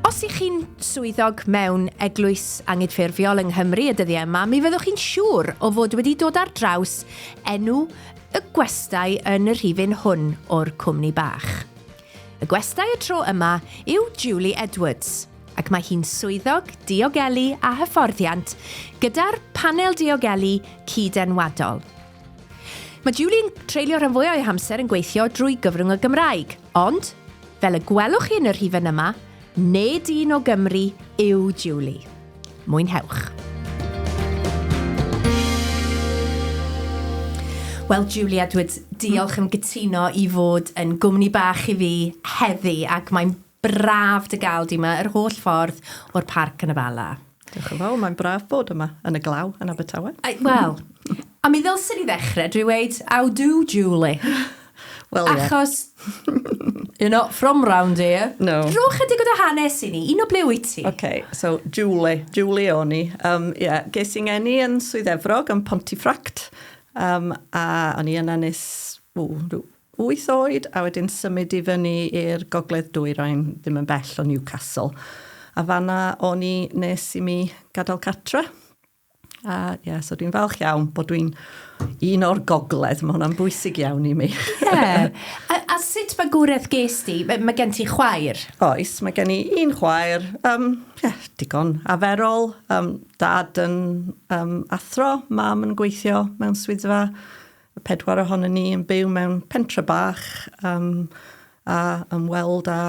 Os ych chi'n swyddog mewn eglwys angydffurfiol yng Nghymru y dyddiau yma, mi fyddwch chi'n siŵr o fod wedi dod ar draws enw y gwestai yn y rhifyn hwn o'r cwmni bach. Y gwestai y tro yma yw Julie Edwards, ac mae hi'n swyddog diogelu a hyfforddiant gyda'r Panel Diogelu Cyd-enwadol. Mae Julie'n treulio rhan fwyaf ei hamser yn gweithio drwy gyfrwng y Gymraeg, ond, fel y gwelwch chi yn y rhifyn yma, nid un o Gymru yw Julie. Mwynhewch! Wel, Julie Edwards, diolch yn gytuno i fod yn gwmni bach i fi heddi, ac mae'n Braf dy gael di yma, yr holl ffordd o'r Parc yn y Bala. Diolch yn fawr, mae'n braf bod yma, yn y glaw, yn Abertawe. Wel, a mi ddylsyn ni ddechrau drwy weud, how do, Julie? Wel, ie. Achos, you're not from round here. No. Rho chydig o dy hanes i ni, un o ble wyt ti? OK, so Julie, Julie o'n i. Um, yeah, ges i'n ngeni yn Swydd Efrog, yn Pontefract, um, a o'n i yna nes, ww, rhyw wyth oed a wedyn symud i fyny i'r Gogledd Dwyrain ddim yn bell o Newcastle a fan'na o'n i nes i mi gadael cartre a ie so dwi'n falch iawn bod dwi'n un o'r Gogledd, mae hwnna'n bwysig iawn i mi. Ie, a, a sut magwraeth ges di? Mae, mae gen ti chwaer? Oes, mae gen i un chwaer, um, yeah, digon aferol, um, dad yn um, athro, mam yn gweithio mewn swyddfa Y pedwar ohonon ni yn byw mewn pentre bach um, a ymweld â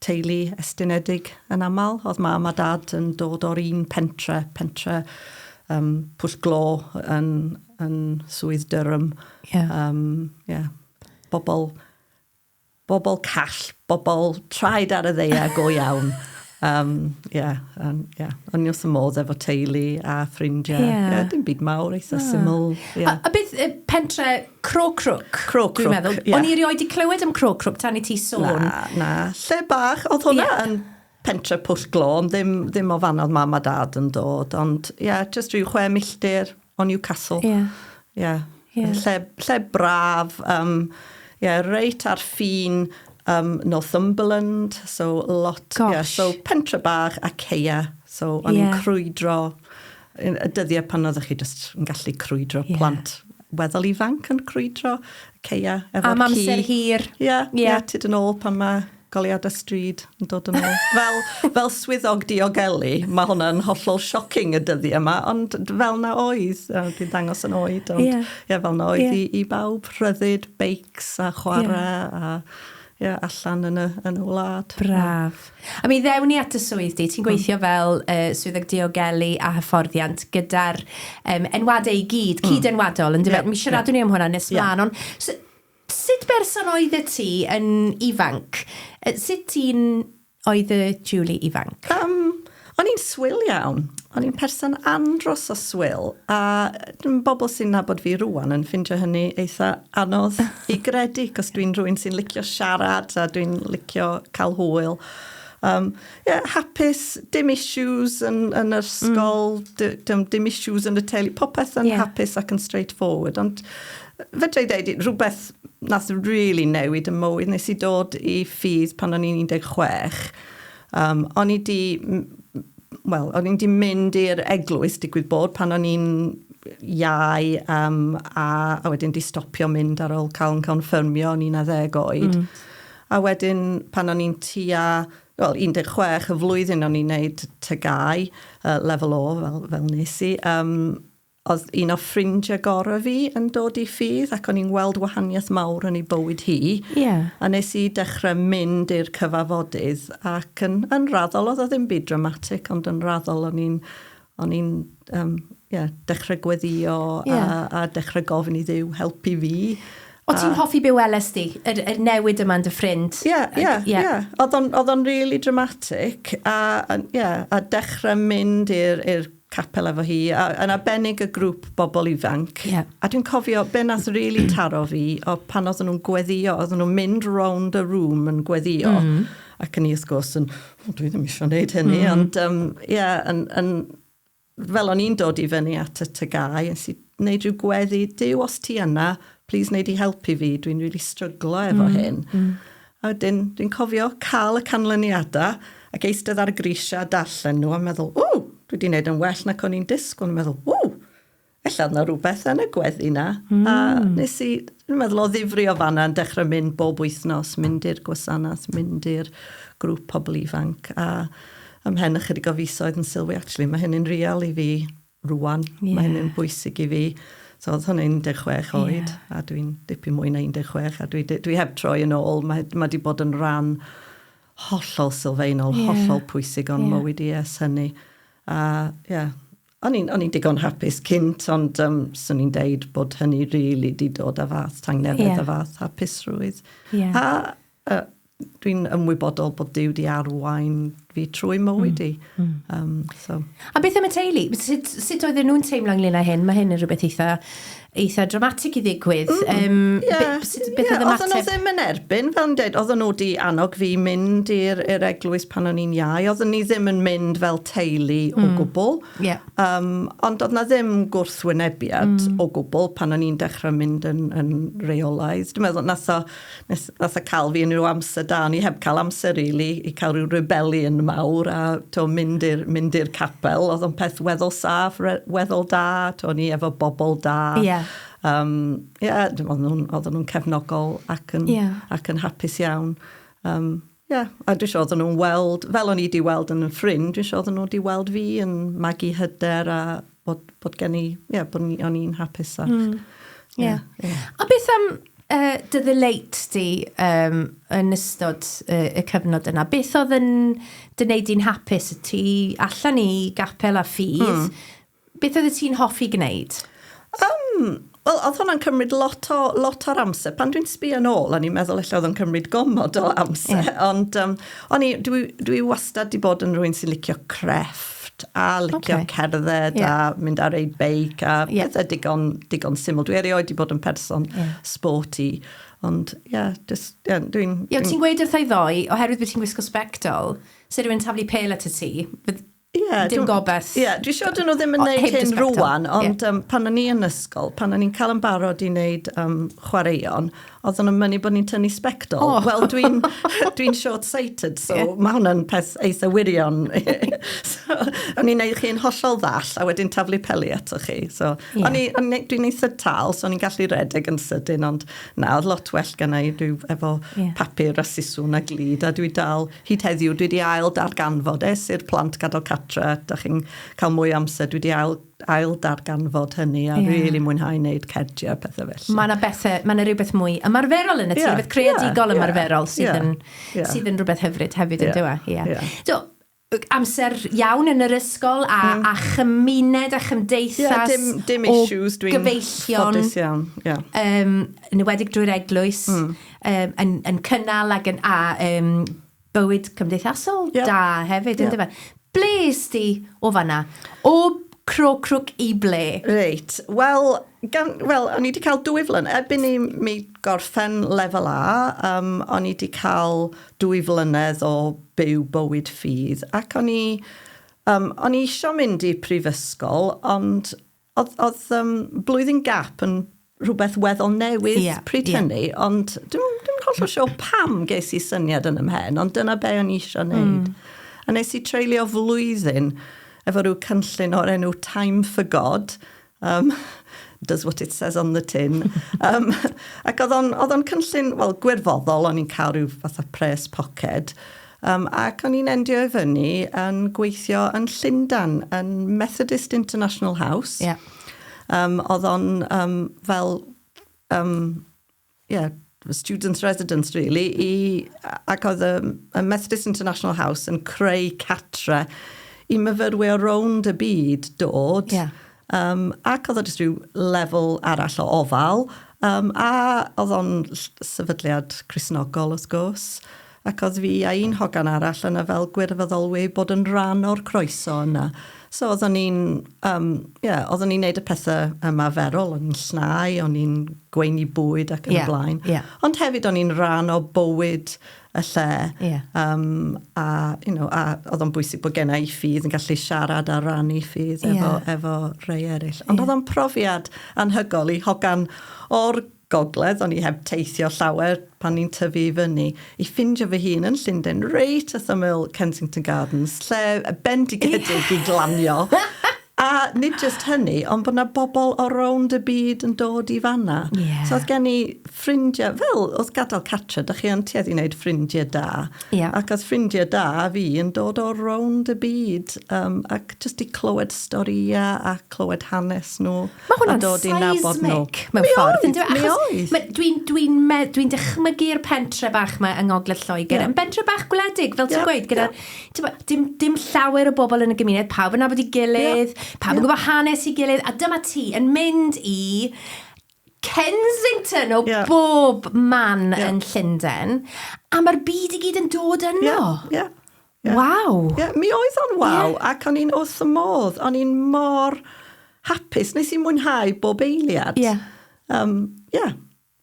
teulu estynedig yn aml. Oedd mam a dad yn dod o'r un pentre, pentre um, Pwll Glo yn, yn Swydd Durham. Yeah. Um, yeah. Bobl Bobl call, bobl traed ar y ddeia go iawn. Um, yeah, um, yeah. O'n i wrth y modd efo teulu a ffrindiau. Yeah. Yeah, dim byd mawr, eitha yeah. syml. Yeah. A, a beth y pentre Cro Crwc? Cro Crwc, yeah. O'n i erioed wedi clywed am Cro Crwc tan i ti sôn. Na, na. Lle bach, oedd hwnna yeah. yn Pentre Pwll Glo, ond ddim, ddim o fan oedd mam a dad yn dod, ond ie, yeah, just rhyw chwe milltir o Newcastle. Ie. Yeah. Ie. Yeah. Yeah. Lle, lle braf, um, ie, yeah, reit ar ffin um, Northumberland, so lot, ie, yeah, so pentre bach a ceia, so o'n yeah. i'n crwydro, y dyddiau pan oeddech chi just yn gallu crwydro yeah. plant weddol ifanc yn crwydro ceia efo'r ci. Am amser hir. Ie, yeah, yeah. yeah, tyd yn ôl pan mae Goleuadau stryd yn dod yn ôl. Fel, fel swyddog diogelu, mae hwnna'n hollol shocking y dyddiau yma, ond fel na oedd, uh, dwi'n dangos yn oed, ond yeah. Yeah, fel na oedd yeah. i, i bawb, rhyddid, beics a chwarae yeah. a yeah, allan yn y, yn y wlad. Braf. A mi ddewn ni at y swydd di, ti'n gweithio mm. fel uh, swyddog diogelu a hyfforddiant gyda'r um, enwadau i gyd, mm. cyd-enwadol, yn yeah. Mi siaradwn yeah. ni am hwnna nes yeah. mlaen, ond so, Sut berson oeddet ti yn ifanc? Sut un oedd y Julie ifanc? Yym, o'n i'n swil iawn. O'n i'n person andros o swil, a m- bobl sy'n nabod fi rŵan yn ffindio hynny eitha anodd i gredu, 'c'os dwi'n rhywun sy'n licio siarad a dwi'n licio ca'l hwyl. Yym, ie, hapus, dim issues yn yn yr ysgol... Mm. ...dy- dim dim issues yn y teulu, popeth yn... Ie. ...hapus ac yn straightforward, ond Fedra i ddeud rhywbeth nath rili newid y mywyd. Nes i dod i ffydd pan o'n i'n 16. Um, o'n i di... Wel, o'n i'n di mynd i'r eglwys, digwydd bod, pan o'n i'n iau um, a, a wedyn di stopio mynd ar ôl cael yn confirmio o'n i'n a ddeg oed. Mm. A wedyn pan o'n i'n tua wel, 16 y flwyddyn o'n i'n neud tygau, uh, lefel o fel, fel nes i, um, Oedd un o ffrindiau gorau fi yn dod i ffydd ac o'n i'n weld wahaniaeth mawr yn ei bywyd hi. Ie. A nes i dechrau mynd i'r cyfafodydd ac yn yn raddol oedd o ddim byd dramatic ond yn raddol o'n i'n o'n i'n yym ie dechrau gweddio a a dechrau gofyn i Dduw helpu fi. O ti'n hoffi be weles di? Yr yr newid yma yn dy ffrind? Ie ie ie. Oedd o'n oedd o'n rili dramatic a a ie a dechrau mynd i'r i'r capel efo hi, a, yn arbennig y grŵp bobl ifanc. Yeah. A dwi'n cofio, be nath really taro fi, o pan oedden nhw'n gweddio, oedden nhw'n mynd round y room yn gweddio, mm. ac yn i wrth gwrs yn, o, dwi ddim eisiau gwneud hynny, mm. ond, ie, um, yeah, yn, yn, fel o'n i'n dod i fyny at y tygau, nes i wneud rhyw gweddi, dyw os ti yna, please wneud i helpu fi, dwi'n really stryglo efo mm. hyn. Mm. A wedyn, dwi'n cofio cael y canlyniadau ac eistedd ar y grisiau a darllen nhw a meddwl, ww, dwi wedi gwneud yn well nac o'n i'n disgwyl. O'n i'n meddwl, ww, ella oedd na rhywbeth yn y gweddi na. Mm. A nes i, dwi'n meddwl o ddifri o fanna yn dechrau mynd bob wythnos, mynd i'r gwasanaeth, mynd i'r grŵp pobl ifanc a ymhen ychydig o fisoedd yn sylwi, actually, mae hyn yn real i fi. rŵan. Yeah. Mae hynny'n bwysig i fi. So oedd hwnna 16 oed, yeah. a dwi'n dipyn mwy na 16, a dwi, dwi heb troi yn ôl. Mae, mae di bod yn ran hollol sylfaenol, yeah. hollol pwysig o'n yeah. mywyd i es hynny. A, ie, yeah, o'n i'n digon hapus cynt, ond um, swn i'n deud bod hynny rili really di dod â fath tangnefedd yeah. a fath hapusrwydd. Yeah. A A dwi'n ymwybodol bod Duw di arwain fi trwy mywyd i. Mm. Mm. Um, so. A beth am y teulu? Sut, sut oedden nhw'n teimlo ynglyn â hyn? Mae hyn yn rhywbeth eitha, eitha dramatic i ddigwydd. Mm. Um, yeah. Beth, sut, beth yeah. oedd ymateb? Oedden nhw ddim yn erbyn, fel yn dweud, oedden nhw di annog fi mynd i'r eglwys pan o'n i'n iau. Oedden ni ddim yn mynd fel teulu mm. o gwbl. Yeah. Um, ond oedd na ddim gwrthwynebiad mm. o gwbl pan o'n i'n dechrau mynd yn, yn reolaidd. Dwi'n meddwl, nath o, nes nath e ca'l fi yn ryw amser da o'n i heb ca'l amser rili i ca'l ryw rebelion mawr a t'o' mynd i'r mynd i'r capel o'dd o'n peth weddol saff re- weddol da t'o' o'n i efo bobol da. Ie. Yym ie dim ond nw'n odden nw'n cefnogol ac yn... Ie. ...ac yn hapus iawn yym. Ie, a dwi isio iddyn nhw weld, fel o'n i wedi weld yn 'y ffrind, dwi isio iddyn nhw wedi weld fi yn magu hyder a bod, bod gen i, ie, bod ni, o'n i'n hapus ac... Mm. Ie. Yeah. Yeah. A beth am uh, dy ddyleit di um, yn ystod uh, y cyfnod yna? Beth oedd yn dy wneud di'n hapus? Ti allan i gapel a ffydd, mm. Beth oeddet ti'n hoffi gwneud? Yym, wel, oedd hwnna'n cymryd lot o, lot o'r amser. Pan dwi'n sbio nôl, o'n i'n meddwl ella oedd o'n cymryd gomod o amser. Yeah. Ond um, o'n i, dwi, dwi wastad di bod yn rhywun sy'n licio crefft a licio okay. cerdded yeah. a mynd ar ei beic a yeah. pethau digon, digon syml. Dwi erioed di bod yn person yeah. sporty. Ond, ie, yeah, just, yeah, dwi'n... Ie, ti'n gweud wrth ei ddoe, oherwydd bod ti'n gwisgo spectol, sy'n rhywun taflu pel at y ti, Ie, dim dw- gobeth. Ie, dwi siŵr dyn nhw ddim yn O, neud heb dy hyn sbectol. rwan, ond um, pan o'n i yn ysgol, pan o'n i'n cael yn barod i wneud um, chwaraeon, oedden nhw'n mynnu bod ni'n tynnu sbectol. O. Wel, dwi'n dwi short-sighted, so Ie. mae hwnna'n peth eitha wirion. so, o'n i'n neud chi'n hollol ddall, a wedyn taflu peli ato chi. So, Ie. o'n i, o'n i, dwi'n eitha tal, so o'n i'n gallu redeg yn sydyn, ond na, oedd lot well gennau rhyw efo Ie. papur a siswn a glid, a dwi dal Hyd heddiw, dwi 'di ail darganfod, es i'r plant gadael catre, da chi'n cael mwy o amser, dwi 'di ail ail darganfod hynny a rili mwynhau neud cardiau a pethe felly. Ma' 'na bethe, ma' 'na rywbeth mwy ymarferol yn y tŷ. Ie. Rwbeth creadigol ymarferol. Ie. Ie. Sydd yn... Ie. ...sydd yn rwbeth hyfryd hefyd yndyw e? Ie. Ie. Ie. Do. Yy amser iawn yn yr ysgol a... Hmm. ...a chymuned a chymdeithas... Ie dim dim issues dwi'n... ...o gyfeillion... ...ffodus iawn. Ie. Yym yn enwedig drwy'r eglwys. Hmm. um, yn, yn cynnal ac yn a um, bywyd cymdeithasol yep. da hefyd, yep. ynddo fe? Ble is ti o fanna? O cro crwc i ble? Reit, wel, gan, well, o'n i wedi cael dwy flynedd, erbyn i mi gorffen lefel A, um, o'n i wedi cael dwy flynedd o byw bywyd ffydd, ac o'n i, um, o'n i eisiau mynd i prifysgol, ond Oedd, oedd um, blwyddyn gap yn rhywbeth weddol newydd yeah, pryd yeah. hynny, ond dwi'n dwi hollol sio pam ges i syniad yn ymhen, ond dyna be o'n i eisiau hmm. wneud. Mm. A nes i treulio flwyddyn efo rhyw cynllun o'r enw Time for God, um, does what it says on the tin. um, ac oedd o'n cynllun, wel, gwirfoddol, o'n i'n cael rhyw fath o pres poced, Yym, ac o'n i'n endio i fyny yn gweithio yn Llundan, yn Methodist International House. Ie. Yeah. Um, oedd o'n um, fel, um, yeah, students residence really, i, ac oedd y, y Methodist International House yn creu catre i myfyrwyr o rownd y byd dod. Yeah. Um, ac oedd o jyst rhyw lefel arall o ofal. Um, a oedd o'n sefydliad Crisnogol, wrth gwrs. Ac oedd fi a un hogan arall yna fel gwirfoddolwyr bod yn rhan o'r croeso yna. So oeddwn ni'n, um, yeah, oeddwn ni'n neud y pethau ymarferol, o'n i'n llnau, o'n i'n gweini bwyd ac yn yeah, y blaen. Yeah. Ond hefyd o'n i'n rhan o bywyd y lle. Yeah. Um, a, you know, a oedd o'n bwysig bod gen i ffydd yn gallu siarad a rannu ffydd efo, yeah. efo rhai eraill. Ond yeah. oedd o'n profiad anhygol i hogan o'r Gogledd, o'n i heb teithio llawer pan ni'n tyfu i fyny, i ffindio fy hun yn Llundain, reit wrth ymyl Kensington Gardens, lle bendigedig i glanio. A nid just hynny, ond bod yna bobl o rownd y byd yn dod i fanna. Yeah. So oedd gen i ffrindiau, fel oedd gadael catra, da chi yn tuedd i wneud ffrindiau da. Yeah. Ac oedd ffrindiau da fi yn dod o rownd y byd, um, ac just i clywed storïau a clywed hanes nhw. Mae hwnna'n seismic mewn ffordd. Mi oedd, mi oedd. Achos dwi'n dwi dwi dychmygu'r pentre bach yma yng Ngogledd Lloegr. Yeah. Yn bentre bach gwledig, fel ti'n yeah, gweud, gyda... Yeah. Dim, dim llawer o bobl yn y gymuned, pawb yn nabod i gilydd, yeah. pawb yn yeah. gwybod hanes i gilydd, a dyma ti yn mynd i Kensington o yeah. bob man yeah. yn Llundain, a mae'r byd i gyd yn dod yno. Yeah. Yeah. Yeah. Waw! Yeah, mi oedd o'n waw, yeah. ac o'n i'n wrth y modd. O'n i'n mor hapus. Nes i mwynhau bob eiliad. Yeah. Um, yeah.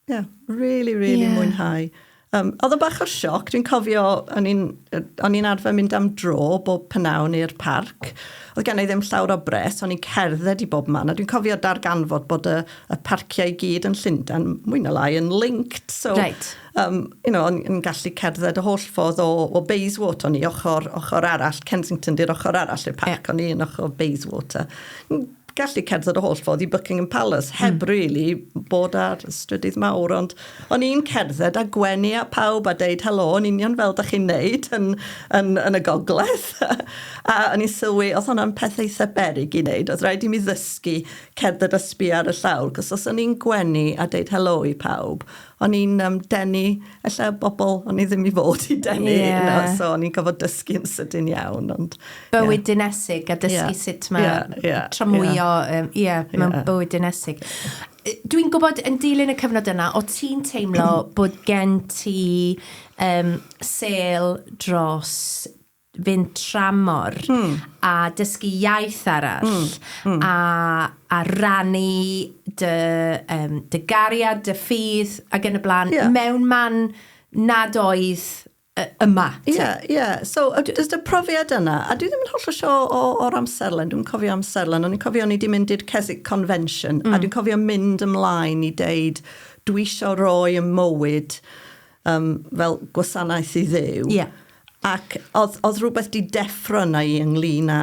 Yeah, really, really yeah. mwynhau. Um, oedd o bach o'r sioc, dwi'n cofio, o'n i'n arfer mynd am dro bob pynawn i'r parc. Oedd gen i ddim llawr o bres, o'n i'n cerdded i bob man, a dwi'n cofio darganfod bod y, y parciau i gyd yn Llundain, mwy na lai, yn linked. So, right. Yym, you know, o'n i'n gallu cerdded y holl ffordd o, o Bayswater, o'n i ochr, ochr arall, Kensington di'r ochr arall i'r parc, yeah. o'n i yn ochr Bayswater. N- gallu cerdded y holl ffordd i Buckingham Palace, hmm. heb mm. really bod ar strydydd mawr, ond o'n i'n cerdded a gwenu a pawb a deud helo, yn union fel da chi'n neud yn, yn, yn y gogledd. a o'n i'n sylwi, oedd hwnna'n peth eitha berig i wneud, oedd rhaid i mi ddysgu cerdded a sbi ar y llawr, cos os o'n i'n gwenu a deud helo i pawb, o'n i'n um, denu, ella bobl o'n i ddim i fod i denu, yeah. you know, so o'n i'n gofod dysgu yn sydyn iawn. Ond, bywyd yeah. dinesig a dysgu yeah. sut mae yeah, yeah, tramwyo, ie, yeah. um, yeah, yeah. mewn bywyd dinesig. Dwi'n gwybod yn dilyn y cyfnod yna, o ti'n teimlo bod gen ti um, sel dros fynd tramor mm. a dysgu iaith arall mm. Mm. A, a rannu dy, um, dy gariad, dy ffydd ac yn y blaen yeah. mewn man nad oedd yma. Ie, yeah, ie. Yeah. So, does dy profiad yna, a dwi ddim yn holl o sio o'r amserlen, dwi'n cofio amserlen, ond i'n cofio ni wedi mynd i'r Keswick Convention, mm. a dwi'n cofio mynd ymlaen i deud, dwi eisiau roi y mywyd Yym, fel gwasanaeth i Dduw. Ie. Ac oedd, oedd rhywbeth di deffro yna i ynglyn â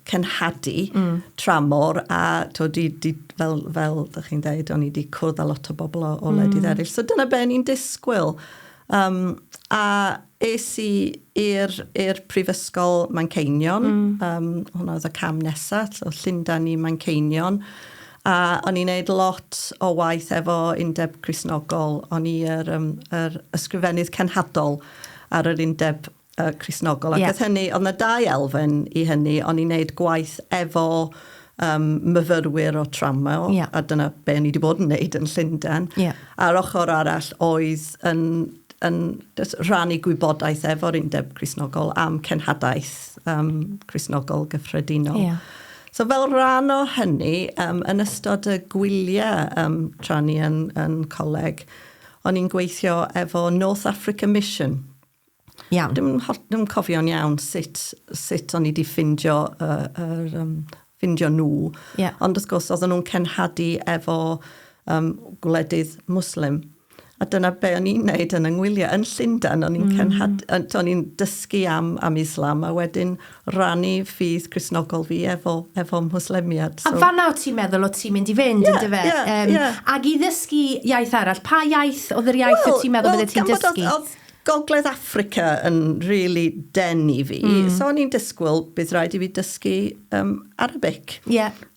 cenhadu... Mm. ...tramor a, tibod, di, di, fel, fel dych chi'n dweud, o'n i di cwrdd â lot o bobl o, o wledydd... Mm. ...eraill, so dyna be o'n i'n disgwyl. Yym, a es i i'r, i'r Prifysgol Manceinion... Mm. ...yym, hwnna oedd y cam nesa, so Llundain i Manceinion. A o'n i'n neud lot o waith efo Undeb Cristnogol. O'n i yr yym yr Ysgrifennydd Cenhadol ar yr Undeb yy Cristnogol. Ac wrth hynny, o'dd 'na dau elfen i hynny. O'n i'n neud gwaith efo yym myfyrwyr o tramor. Ie. A dyna be' o'n i 'di bod yn neud yn Llunden. Ie. A'r ochor arall oedd yn yn jys rhannu gwybodaeth efo'r Undeb Cristnogol am cenhadaeth yym Cristnogol gyffredinol. Ie. So fel rhan o hynny, um, yn ystod y gwyliau um, tra ni yn, yn coleg, o'n i'n gweithio efo North Africa Mission. Iawn. Dim, dim cofio'n iawn sut, sut o'n i wedi ffindio, uh, er, um, ffindio nhw. Yeah. Ond wrth gwrs, oedden nhw'n cenhadu efo um, gwledydd Muslim. A dyna be o'n i'n neud yn y ngwyliau yn Llundain. O'n i'n cenhad... Mm. O'n i'n dysgu am, am Islam a wedyn rannu ffydd Crisnogol fi efo, efo Mwslemiad. So... A fanna o ti'n meddwl o ti'n mynd i fynd, yeah, yndyfe? Yeah, um, yeah. Ac i ddysgu iaith arall, pa iaith oedd yr iaith well, o ti'n meddwl well, bydde ti'n dysgu? Oedd, Gogledd Africa yn really den i fi. Mm. So o'n i'n disgwyl bydd rhaid i fi dysgu um, Arabic. Yeah.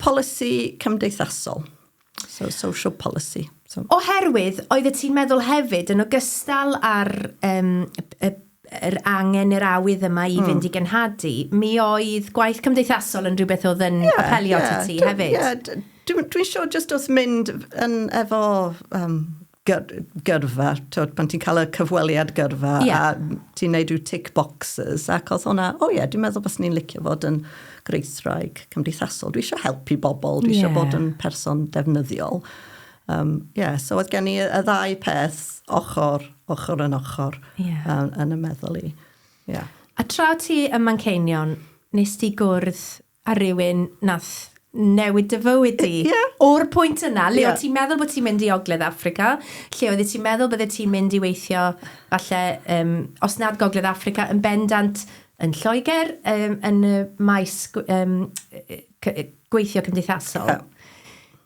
Polisi cymdeithasol. So, social policy. So. Oherwydd, oeddet ti'n meddwl hefyd, yn ogystal â'r um, y yr angen i'r awydd yma i hmm. fynd i gynhadu, mi oedd gwaith cymdeithasol yn rhywbeth oedd yn yeah, apelio yeah, ti hefyd. Yeah, Dwi'n dwi siŵr jyst wrth mynd yn efo um, gyrfa, twod, pan ti'n cael y cyfweliad gyrfa yeah. a ti'n neud rhyw tick boxes ac oedd hwnna, o oh ie, yeah, dwi'n meddwl bod ni'n licio fod yn greithraig cymdeithasol. Dwi eisiau helpu bobl, dwi eisiau yeah. bod yn person defnyddiol. Um, yeah, so oedd gen i y ddau peth ochr, ochr yn ochr yeah. um, yn y meddwl i. Yeah. A tra ti ym Manceinion, nes ti gwrdd a rhywun nath newid dy fywyd di. Ie. O'r pwynt yna, le o' ti'n meddwl bod ti'n mynd i Ogledd Affrica, lle oeddet ti'n meddwl byddet ti'n mynd i weithio, falle, um, os nad Gogledd Affrica, yn bendant yn Lloegr, um, yn y maes um, gweithio cymdeithasol. Yeah.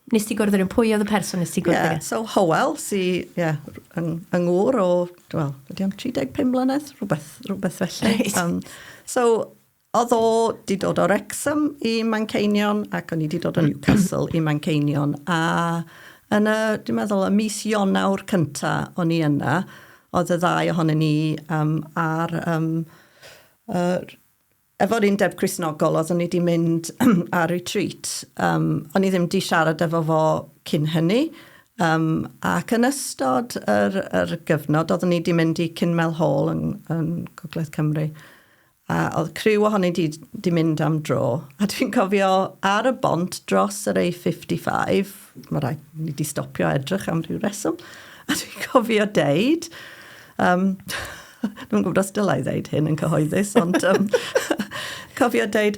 Nes ti gwrdd yn pwy oedd y person nes ti gwrdd yeah. So Howell, si, yeah, yng, yng ngŵr o, wel, ydy o'n 35 mlynedd, rhywbeth, rhywbeth felly. Right. Um, so, Oedd o 'di dod o Wrecsam i Manceinion ac o'n i 'di dod o Newcastle i Manceinion a yn y, dwi'n meddwl, y mis Ionawr cynta o'n i yna, oedd y ddau ohonyn ni um, ar um, uh, efo'r undeb Crisnogol, oedd o'n i wedi mynd ar retreat. Um, o'n i ddim wedi siarad efo fo cyn hynny, um, ac yn ystod yr, yr gyfnod, oedd o'n i wedi mynd i Cynmel Hall yn, yn Gogledd Cymru. A oedd criw ohoni di 'di mynd am dro. A dwi'n cofio ar y bont dros yr A55, mae rhaid ni 'di stopio edrych am ryw reswm, a dwi'n cofio deud, um, dwi'n gwybod os dylai ddeud hyn yn cyhoeddus, ond um, cofio deud,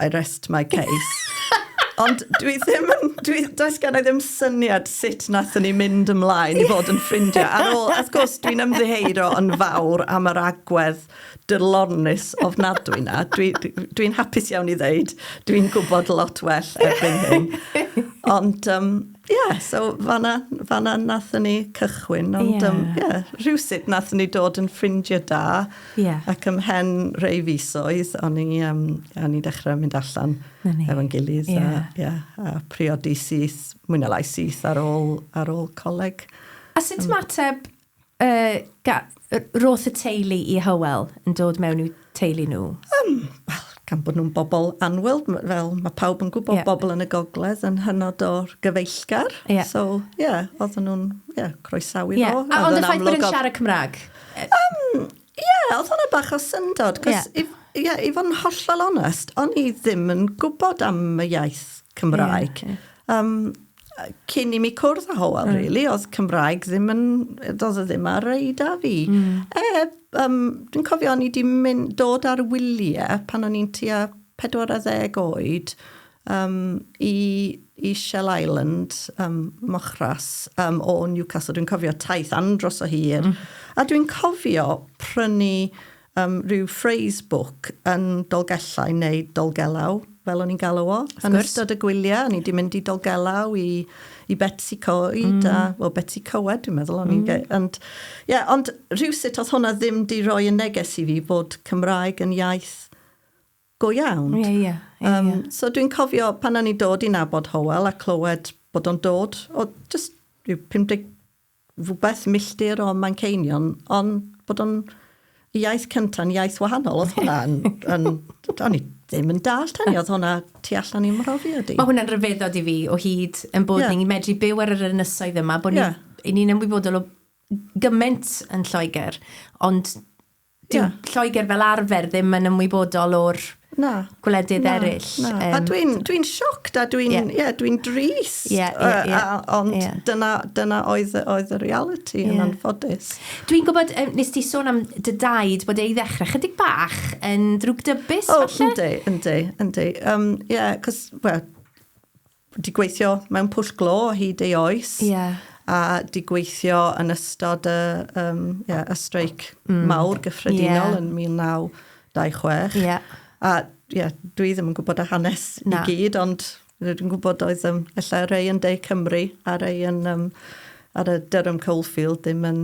I rest my case. Ond dwi ddim yn... Dwi, does gen i ddim syniad sut nathon ni mynd ymlaen i fod yn ffrindiau. Ar ôl, wrth gwrs, dwi'n ymddiheuro yn fawr am yr agwedd dylornus ofnadwy na. Dwi'n dwi, dwi hapus iawn i ddeud, dwi'n gwybod lot well erbyn hyn. Ond, um, Ie, yeah, so fanna, fanna nathon ni cychwyn, ond yeah. um, yeah, rhywsut nathon ni dod yn ffrindiau da, yeah. ac ymhen rei fisoedd, o'n i, um, o'n i dechrau mynd allan efo'n gilydd, yeah. a, yeah, a priodi syth, mwy na lai syth ar ôl, ar ôl coleg. A sut um, mateb Y ga- y- roth y teulu i Hywel yn dod mewn i'w teulu nhw? Um, wel, gan bod nhw'n bobl anwylb, m- fel mae pawb yn gwybod, Ie. bobl yn y gogledd yn hynod o gyfeillgar. Ie. So, ie, yeah, oedden nhw'n, ie, yeah, croesawu Ie. fo. A ond y ffaith bod yn siarad Cymraeg? Yy, Ie, yeah, oedd hwnna bach o syndod. Ie. Yeah. I, yeah, i fod yn hollol onest, o'n i ddim yn gwybod am y iaith Cymraeg. Yeah, yeah. Um, cyn i mi cwrdd â Howell, mm. really, oedd Cymraeg ddim yn, doedd e ddim ar ei da fi. Mm. E, um, dwi'n cofio o'n i wedi mynd dod ar wyliau pan o'n i'n tua 40 oed, Yym, i, i Shell Island, um, Mochras, um, o Newcastle. Dwi'n cofio taith andros o hir. Mm. A dwi'n cofio prynu um, rhyw phrase book yn Dolgellau neu Dolgelau, fel o'n i'n galw o. Yn ystod y gwyliau, o'n i wedi mynd i Dolgelau i, i Betsy Coed, mm. a, well, Betsy Coed, dwi'n meddwl, o'n mm. i'n... Ond, yeah, ond rhywsut oedd hwnna ddim di roi yn neges i fi bod Cymraeg yn iaith go iawn. Ie, ie, ie, ie. Yym, so dwi'n cofio pan o'n i'n dod i nabod Hywel a clywed bod o'n dod o jyst ryw 50 rhywbeth milltir o Manceinion, ond bod o'n y iaith cynta'n iaith wahanol, oedd hwnna yn... yn o'n i ddim yn dallt hynny, oedd hwnna tu allan i'm mhrofiad i. Mae hwnna'n rhyfeddod i fi o hyd yn bod yeah. ni'n medru byw ar yr ynysoedd yma, bod yeah. ni'n ni ymwybodol o gymaint yn Lloegr, ond Dyw Lloegr fel arfer ddim yn ymwybodol o'r na, gwledydd na, eraill. Na. Um, a dwi'n dwi sioct a dwi'n yeah. yeah, dwi drist. Yeah, yeah, yeah. Uh, a, ond yeah. dyna, dyna oedd, oedd y reality yeah. yn anffodus. Dwi'n gwybod, um, nes ti sôn am dy daid bod ei ddechrau chydig bach yn drwg dybus, oh, falle? O, yndi, yndi, yndi. Um, yeah, cos, well, 'di gweithio mewn pwll glo o hyd ei oes. Ie. A 'di gweithio yn ystod y, um, yeah, y streic mm. mawr gyffredinol yeah. yn 1926. Ie. Yeah. A yeah, dwi ddim yn gwybod y hanes Na. i gyd, ond dwi'n gwybod oedd um, efallai rei yn De Cymru a rei yn, um, ar y Durham Coalfield ddim yn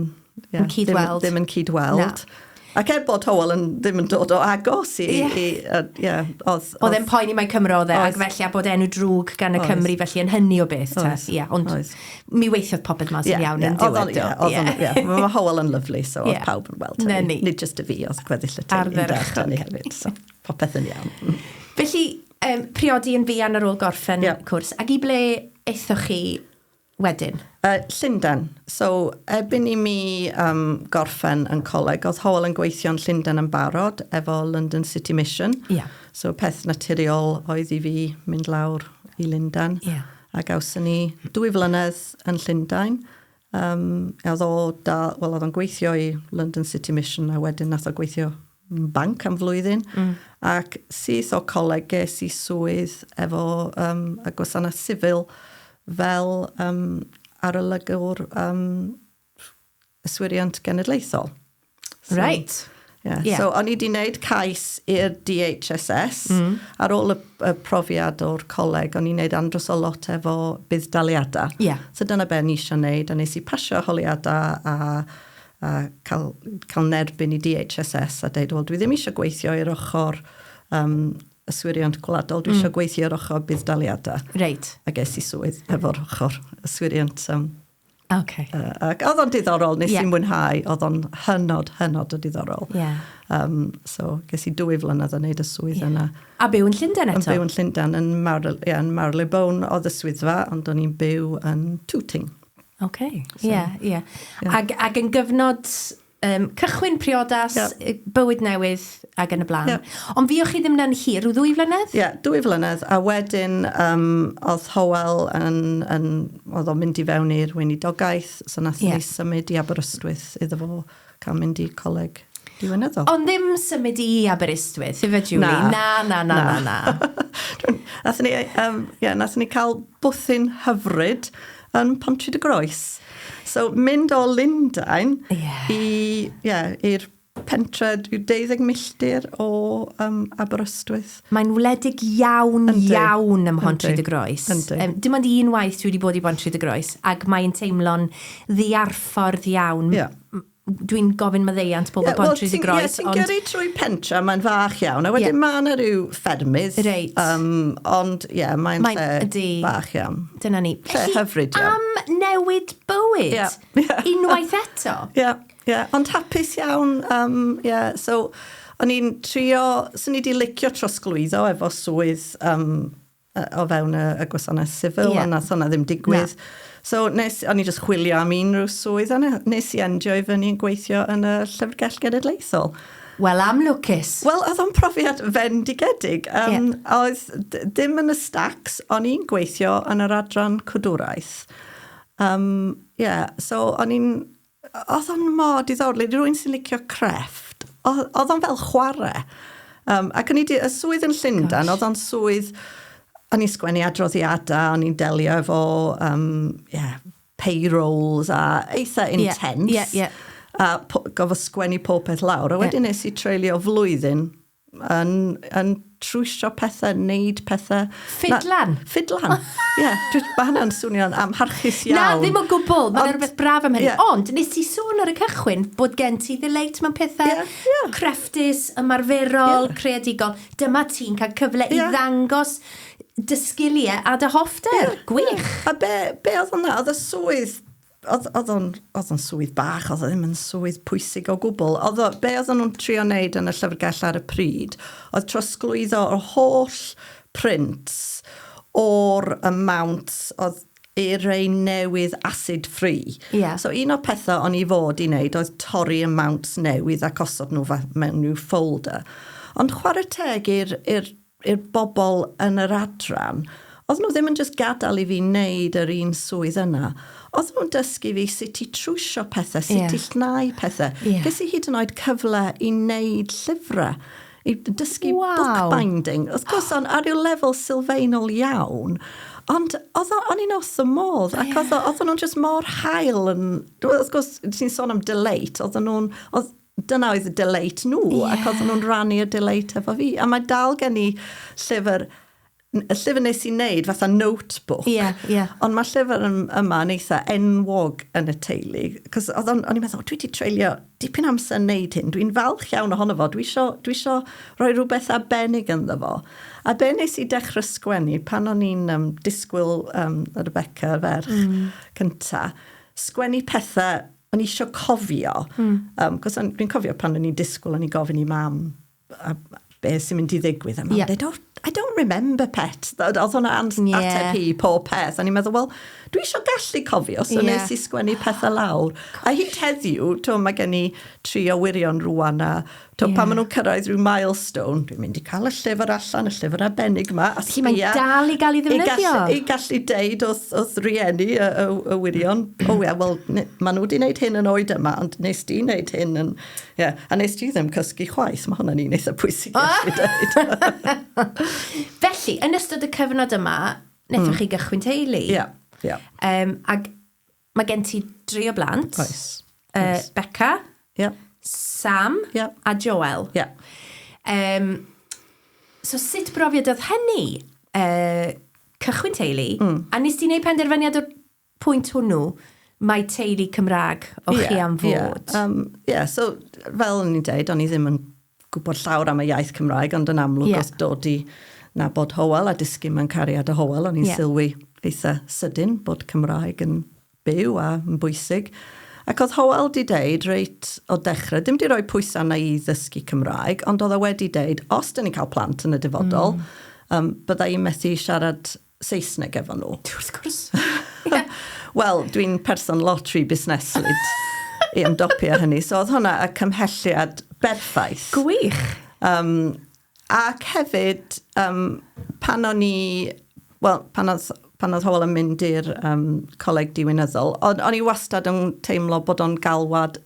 yeah, yn cyd-weld. Ddim, ddim yn cyd-weld. Na. Ac er bod Howell yn ddim yn dod o agos i... Yeah. i uh, yeah, oedd, oedd e'n poeni mae Cymro oedd e, ac felly a bod enw drwg gan y oes. Cymru, felly yn hynny o beth. Oes. Yeah, ond oes. mi weithiodd popeth mas yeah, iawn yeah. yn diwedd. Yeah, oedd yeah. yeah. Mae Howell yn lyflu, so yeah. pawb yn weld hynny. Nid just y fi, oedd gweddill y teulu yn dweud hynny hefyd. So, popeth yn iawn. Felly, um, priodi yn fuan ar ôl gorffen yeah. cwrs, ac i ble eithoch chi wedyn? Yy, Llundain. So, erbyn i mi yym gorffen yn coleg, o'dd Hywel yn gweithio yn Llundain yn barod efo London City Mission. Ia. So, peth naturiol oedd i fi mynd lawr i Lundain. Ia. A gawson ni dwy flynedd yn Llundain. Yym, a o'dd o da- wel o'dd o'n gweithio i London City Mission a wedyn nath o gweithio banc am flwyddyn, mm. ac syth o coleg ges i swydd efo um, y gwasanaeth sifil fel um, arolygwr um, yswiriant genedlaethol. So, right. Yeah. Yeah. So, o'n i wedi wneud cais i'r DHSS mm. ar ôl y, y profiad o'r coleg, o'n i'n wneud andros o lot efo budd-daliadau. Yeah. So dyna be o'n i eisiau wneud, a nes i pasio holiadau a a cael cael yn erbyn i DHSS a deud wel dwi ddim eisiau gweithio i'r ochr um, yswiriant gwladol, dwi mm. eisiau gweithio i'r ochr budd-daliadau. Reit. A ges i swydd efo'r ochr yswiriant um, Okay. Uh, ac oedd o'n diddorol, nes yeah. i'n mwynhau, oedd o'n hynod, hynod o diddorol. Yeah. Um, so, ges i dwy flynedd yn neud y swydd yeah. yna. A byw yn Llundain eto? Yn byw yn Llundain, yn, Marl, yeah, yn Marylebone oedd y swyddfa, ond o'n i'n byw yn Tooting. Oce, ie, ie. Ac, ac yn gyfnod um, cychwyn priodas, yeah. bywyd newydd ac yn y blaen. Yeah. Ond fi o chi ddim yn hir, rhyw ddwy flynedd? Ie, yeah, dwy flynedd, a wedyn um, oedd Howell yn, yn oedd o'n mynd i fewn i'r weinidogaeth, so nath yeah. ni symud i Aberystwyth iddo fo. cael mynd i coleg diwinyddol. Ond ddim symud i Aberystwyth, ife Julie? Na. Na, na, na, na, na. Nathon ni, um, yeah, nathon ni cael bwthyn hyfryd yn Pontri dy Groes. So, mynd o Lundain yeah. i, yeah, i'r pentre, 12 milltir o um, Aberystwyth. Mae'n wledig iawn, Yndi. iawn ym Mhont Rhyd y Groes. Yndi. Um, dim ond un waith dwi wedi bod i Bont Rhyd y Groes, ac mae'n teimlo'n ddiarffordd iawn. Yeah. Dwi'n gofyn maddeiant pobl yeah, Bont well, Rhyd y Groes. Ti'n ond... gyrru trwy pentra, mae'n fach iawn, a wedyn yeah. mae yna rhyw ffermydd. Reit. Um, ond ie, yeah, mae'n mae, lle bach iawn. Dyna ni. Lle hyfryd iawn. Am newid bywyd. Yeah. yeah. Unwaith eto. Yeah. Ie, yeah, ond hapus iawn. Um, yeah, so, o'n i'n trio, so ni wedi licio trosglwyddo efo swydd um, o fewn y, y gwasanaeth sifil, yeah. ond nath hwnna ddim digwydd. No. So, nes, o'n i jyst chwilio am unrhyw swydd, a nes i endio i fyny yn gweithio yn y Llyfrgell Genedlaethol. Wel, am lwcus. Wel, oedd o'n profiad fendigedig. Um, yeah. Oedd ddim yn y stacks, o'n i'n gweithio yn yr adran cwdwraeth. Um, yeah, so o'n i'n oedd o'n mor diddorol. Ydy rwy'n sy'n licio crefft. Oedd o'n fel chwarae. Um, ac o'n i wedi, y swydd yn Llundan, oedd o'n swydd, o'n i'n sgwennu adroddiadau, o'n i'n delio efo, um, yeah, payrolls a eitha intense. Yeah, yeah, yeah. A gofod sgwennu popeth lawr. A wedyn yeah. nes i treulio flwyddyn yn, yn trwysio pethau, wneud pethau. Ffidlan? Na, ffidlan, ie. Yeah, mae hynna'n swnio'n amharchus iawn. Na, ddim o gwbl, mae'n rhywbeth braf am hynny. Yeah. Ond, nes ti sôn ar y cychwyn bod gen ti ddileit mewn pethau yeah, yeah. crefftus, ymarferol, yeah. creadigol. Dyma ti'n cael cyfle yeah. i ddangos dy sgiliau a dy hoffter. Yeah, Gwych. Yeah. A be, be oedd hwnna? Oedd y swydd Oedd, oedd o'n, oedd o'n swydd bach, oedd o ddim yn swydd pwysig o gwbl. Oedd o, be oedd nhw'n trio wneud yn y llyfrgell ar y pryd, oedd trosglwyddo yr holl print o'r amount oedd i'r rei newydd acid free. Yeah. So un o'r pethau o'n i fod i wneud oedd torri amounts newydd ac osod nhw mewn rhyw folder. Ond chwarae teg i'r i'r bobl yn yr adran, oedden nhw ddim yn jyst gadael i fi wneud yr un swydd yna, oedden nhw'n dysgu fi sut i trwsio pethau, sut i llnau pethau. Ges i hyd yn oed cyfle i wneud llyfrau, i dysgu bookbinding. Wrth gwrs, ar ryw lefel sylfaenol iawn, ond o'n i'n wrth fy modd, ac oedden nhw'n jyst mor hael. Wrth gwrs, ti'n sôn am delight, oedden nhw'n... dyna oedd y delight nhw, yeah. ac oedd nhw'n rannu y delight efo fi. A mae dal gen i llyfr, y llyfr nes i'n neud, fatha notebook. Yeah, yeah. Ond mae llyfr yma yn eitha enwog yn y teulu. Cos oedd o'n, o'n i'n meddwl, dwi wedi treulio dipyn amser yn neud hyn. Dwi'n falch iawn ohono fo. Dwi isio, dwi isio rhoi rhywbeth arbennig ynddo fo. A be nes i dechrau sgwennu pan o'n i'n um, disgwyl um, Rebecca, ferch, mm. cynta, sgwennu pethau o'n i eisiau cofio, mm. um, cos o'n i'n cofio pan o'n i'n disgwyl o'n i'n gofyn i mam a, be sy'n mynd i ddigwydd. A mam yeah. dweud, oh, I don't remember pet. Oedd hwnna yeah. ateb hi pob peth. O'n i'n meddwl, wel, dwi eisiau gallu cofio, so yeah. nes i sgwennu pethau lawr. A hyd heddiw, to, mae gen i tri o wirion rwan a To, yeah. pan maen nhw'n cyrraedd rhyw milestone, dwi'n mynd i cael y llyfr allan, y llyfr arbennig yma. A Felly mae'n dal i gael ei ddefnyddio? I gallu, i gallu deud wrth, wrth rieni y, y, y wirion, o oh, ia, wel, maen nhw wedi gwneud hyn yn oed yma, ond nes di wneud hyn yn... Yeah. A nes di ddim cysgu chwaith, mae hwnna'n un eitha pwysig i allu dweud. Felly, yn ystod y cyfnod yma, nethwch mm. chi gychwyn teulu. Ie, yeah. ie. Yeah. Um, ac Mae gen ti dri o blant. Oes. Uh, Oes. Becca. Yep. Sam. Yep. A Joel. Yep. Um, so sut brofiad oedd hynny? Uh, cychwyn teulu. Mm. A nes ti'n ei penderfyniad o'r pwynt hwnnw? Mae teulu Cymraeg o yeah, chi am fod. Ie, yeah. um, yeah, so fel o'n i'n dweud, o'n i ddim yn gwybod llawr am y iaith Cymraeg, ond yn amlwg yeah. oedd dod i nabod Howell a dysgu mewn cariad o Howell, o'n i'n yeah. sylwi eitha sydyn bod Cymraeg yn byw a yn bwysig. Ac oedd Howell di deud reit o dechrau, dim di roi pwysau na i ddysgu Cymraeg, ond oedd e wedi deud, os dyn ni'n cael plant yn y dyfodol, mm. um, byddai i'n methu siarad Saesneg efo nhw. Wrth gwrs. Wel, dwi'n person lot rhy busneslyd i ymdopi â hynny. So oedd hwnna y cymhelliad berffaith. Gwych! Um, ac hefyd, um, pan o'n i... Wel, pan oedd, pan oedd Howell yn mynd i'r um, coleg diwynyddol, o'n, on i wastad yn teimlo bod o'n galwad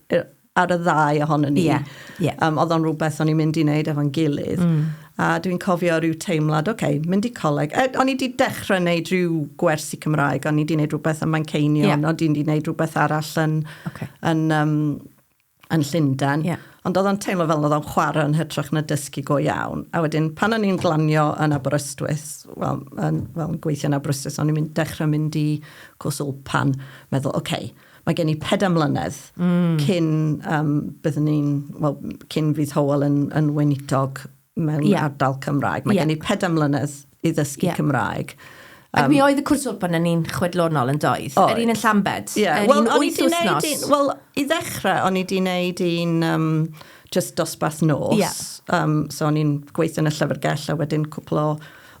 ar y ddau ohonyn ni. Yeah, yeah. Um, oedd o'n rhywbeth o'n i'n mynd i wneud efo'n gilydd. Mm. A dwi'n cofio rhyw teimlad, oce, okay, mynd i coleg. E, o'n i wedi dechrau wneud rhyw gwersi Cymraeg, o'n i wedi wneud rhywbeth yn Manceinion, yeah. o'n i wedi wneud rhywbeth arall yn, okay. yn, um, yn Llundain. Yeah. Ond oedd o'n teimlo fel oedd o'n chwarae yn hytrach na dysgu go iawn. A wedyn, pan o'n i'n glanio yn Aberystwyth, wel, yn, well, yn gweithio yn Aberystwyth, o'n i'n mynd, dechrau mynd i cwrs pan, meddwl, oce, okay, Mae gen i pedair mlynedd mm. cyn um, byddwn ni'n, well, cyn fydd Howell yn, yn weinidog mewn yeah. ardal Cymraeg. Mae yeah. gen i pedair mlynedd i ddysgu yeah. Cymraeg. Um, Ac mi oedd y cwrs open yn un chwedlonol yn doedd? Yr un yn Llambed? Yeah. Yr well, un wyth wythnos? Wel, i ddechrau, o'n i di wneud un um, just dosbarth nos. Yeah. Um, so o'n i'n gweithio yn y llyfrgell a wedyn cwpl o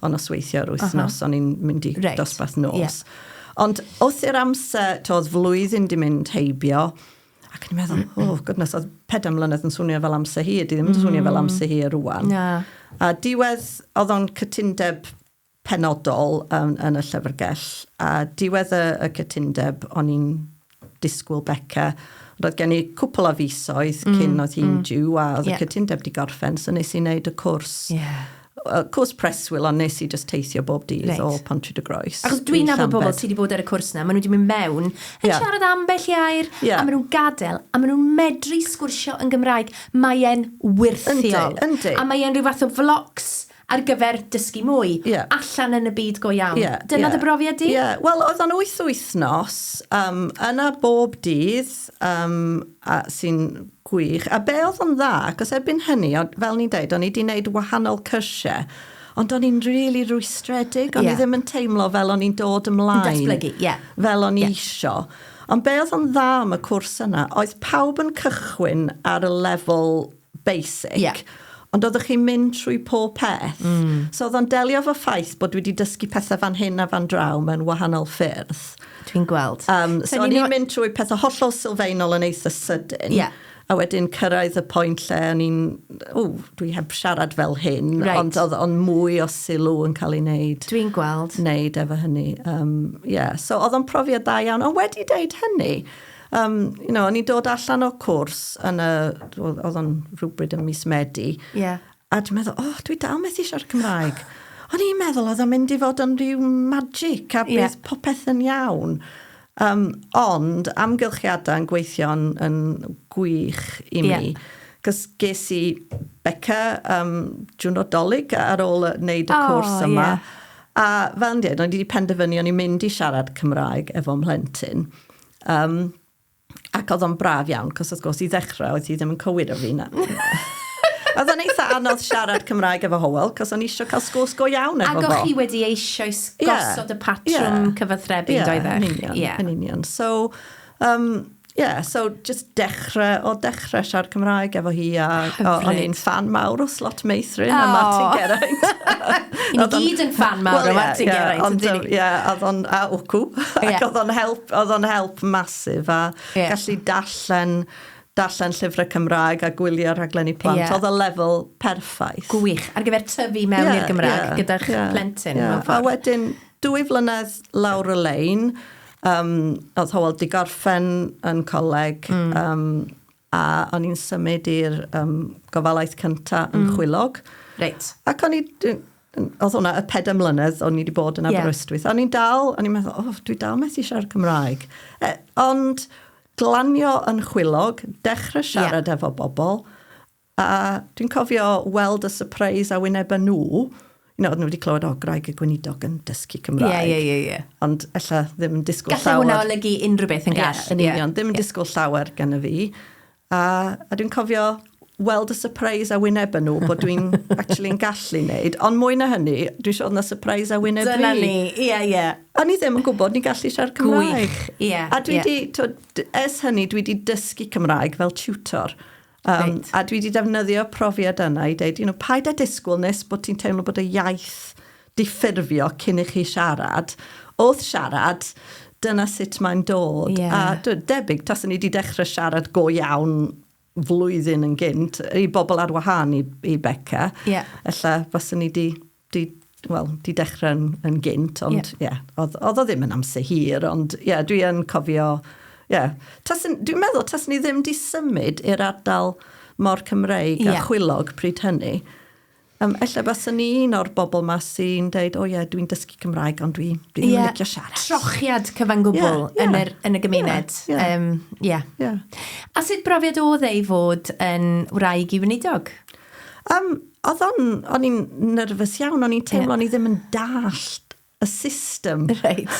o nosweithio yr wythnos, uh -huh. o'n i'n mynd i right. dosbarth nos. Yeah. Ond wrth i'r amser, to, oedd flwyddyn di mynd heibio, ac o'n i'n meddwl, o, oh, goodness, oedd pedair mlynedd yn swnio fel amser hi, di ddim yn swnio fel mm. amser hi ar rwan. Yeah. A diwedd, oedd o'n cytundeb penodol yn, yn y llyfrgell, a diwedd y, y cytundeb, o'n i'n disgwyl Beca. Ond oedd gen i cwpl o fisoedd mm, cyn oedd hi'n mm. diw a oedd yeah. y cytundeb di gorffen, so nes i wneud y cwrs. Yeah. Uh, cwrs preswyl, ond nes i just teithio bob dydd right. o Pontrid y Groes. Achos dwi'n nabod bobl sydd wedi bod ar y cwrs na, maen nhw wedi mynd mewn, yn yeah. siarad ambell i air, yeah. a maen nhw'n gadael, a maen nhw'n medru sgwrsio yn Gymraeg. Mae'n wirthiol. Yndi, yndi. A mae'n rhyw fath o flocs ar gyfer dysgu mwy, allan yn y byd go iawn. Dyna dy brofiad di? Ie, wel oedd o'n wyth wythnos, um, yna bob dydd, um, a sy'n gwych. A be oedd o'n dda, cos erbyn hynny, fel ni'n deud, o'n i wedi gwneud wahanol cyrsiau, ond o'n i'n really rwystredig, o'n yeah. i ddim yn teimlo fel o'n i'n dod ymlaen. Datblygu, ie. Yeah. Fel o'n i yeah. isio. Ond be oedd o'n dda am y cwrs yna, oedd pawb yn cychwyn ar y lefel basic. Ie. Ond oeddech chi'n mynd trwy pob peth. Mm. So oedd o'n delio efo ffaith bod dwi wedi dysgu pethau fan hyn a fan draw mewn wahanol ffyrdd. Dwi'n gweld. Um, so o'n i'n mynd trwy pethau hollol sylfaenol yn eitha sydyn. Yeah. A wedyn cyrraedd y pwynt lle o'n i'n, o, dwi heb siarad fel hyn, right. ond oedd on mwy o sylw yn cael ei wneud. Dwi'n gweld. Wneud efo hynny. Um, yeah. So oedd o'n profiad da iawn. Ond wedi deud hynny, Um, you know, o'n i'n dod allan o'r cwrs yn y... Oedd o'n rhywbryd yn mis Medi. Yeah. A dwi'n meddwl, oh, dwi dal methu siarad Cymraeg. O'n i'n meddwl oedd o'n mynd i fod yn rhyw magic a bydd yeah. popeth yn iawn. Um, ond amgylchiadau yn gweithio'n yn gwych i mi. Yeah. Cos ges i beca um, jwno dolyg ar ôl wneud y oh, cwrs yma. Yeah. A fel yn dweud, o'n i wedi penderfynu o'n i'n mynd i siarad Cymraeg efo mhlentyn. Um, ac oedd o'n braf iawn, cos wrth gwrs i ddechrau oedd hi ddim yn cywir o fi na. oedd o'n eitha anodd siarad Cymraeg efo Howell, cos o'n eisiau cael sgwrs go iawn efo fo. Ac o'ch chi wedi eisiau gosod yeah. y patrwm yeah. cyfathrebu, yeah, doeddech? Yn union, yeah. yn union. So, um, yeah, so just Dechreuodd dechrau siarad Cymraeg efo hi a o'n i'n fan mawr o Slot Meithrin a Martin Geraint. Ni gyd yn fan mawr o Martin Geraint. Ond ie, oedd o'n a wcw. Ac oedd o'n help, oedd o'n help masif a gallu darllen darllen llyfrau Cymraeg a gwylio rhaglenni plant. Oedd y lefel perffaith. Gwych. Ar gyfer tyfu mewn i'r Gymraeg gyda plentyn. A wedyn dwy flynedd lawr y lein, Um, oedd Howell di gorffen yn coleg mm. um, a o'n i'n symud i'r um, gofalaeth cynta yn mm. chwilog. Reit. Ac o'n i, oedd hwnna y pedau mlynedd o'n i wedi bod yn Aberystwyth. Yeah. O'n i'n dal, o'n i'n meddwl, oh, dwi dal methu siarad Cymraeg. E, ond glanio yn chwilog, dechrau siarad yeah. efo bobl, A dwi'n cofio weld y surprise a wynebau nhw. You know, oedden nhw wedi clywed, o, Graig y Gweinidog yn dysgu Cymraeg. Ie, ie, ie, ie. Ond ella ddim yn disgwyl llawer. Gallai hwnna olygu unrhyw beth yn gall. Ie, yn union. Ddim yn disgwyl llawer gen y fi. A, a dwi'n cofio weld y surprise a wynebau nhw bod dwi'n actually yn gallu wneud. Ond mwy na hynny, dwi'n siarad na surprise a wyneb Dyna fi. ni, ie, yeah, ie. Yeah. A ni ddim yn gwybod ni'n gallu siarad Cymraeg. Gwych, ie. Yeah, a dwi yeah. di, ers hynny, dwi wedi dysgu Cymraeg fel tutor. Um, a dwi wedi defnyddio profiad yna i dweud, you know, paid â disgwyl nes bod ti'n teimlo bod y iaith diffurfio cyn i chi siarad. Wrth siarad, dyna sut mae'n dod. Yeah. A dwi, debyg, tas ni wedi dechrau siarad go iawn flwyddyn yn gynt, i bobl ar wahân i, i Becca, yeah. ella fyswn ni wedi Di, wel, di dechrau yn, yn gynt, ond ie, yeah. oedd, oedd o ddim yn amser hir, ond ie, yeah, dwi yn cofio, ie. Yeah. Dwi'n meddwl, tas ni ddim di symud i'r ardal mor Cymreig yeah. a chwilog pryd hynny. Um, ella bas ni un o'r bobl ma sy'n deud, o oh, ie, yeah, dwi'n dysgu Cymraeg, ond dwi'n dwi yeah. licio siarad. Trochiad cyfan gwbl yeah, yeah. Yn, yr, yn y gymuned. Ie. Yeah, yeah. um, yeah. yeah. A sut brofiad oedd ei fod yn wraig i wneudog? Um, Oedd o'n, o'n i'n nerfus iawn, o'n i'n teimlo, yeah. o'n i ddim yn dallt y system. Right.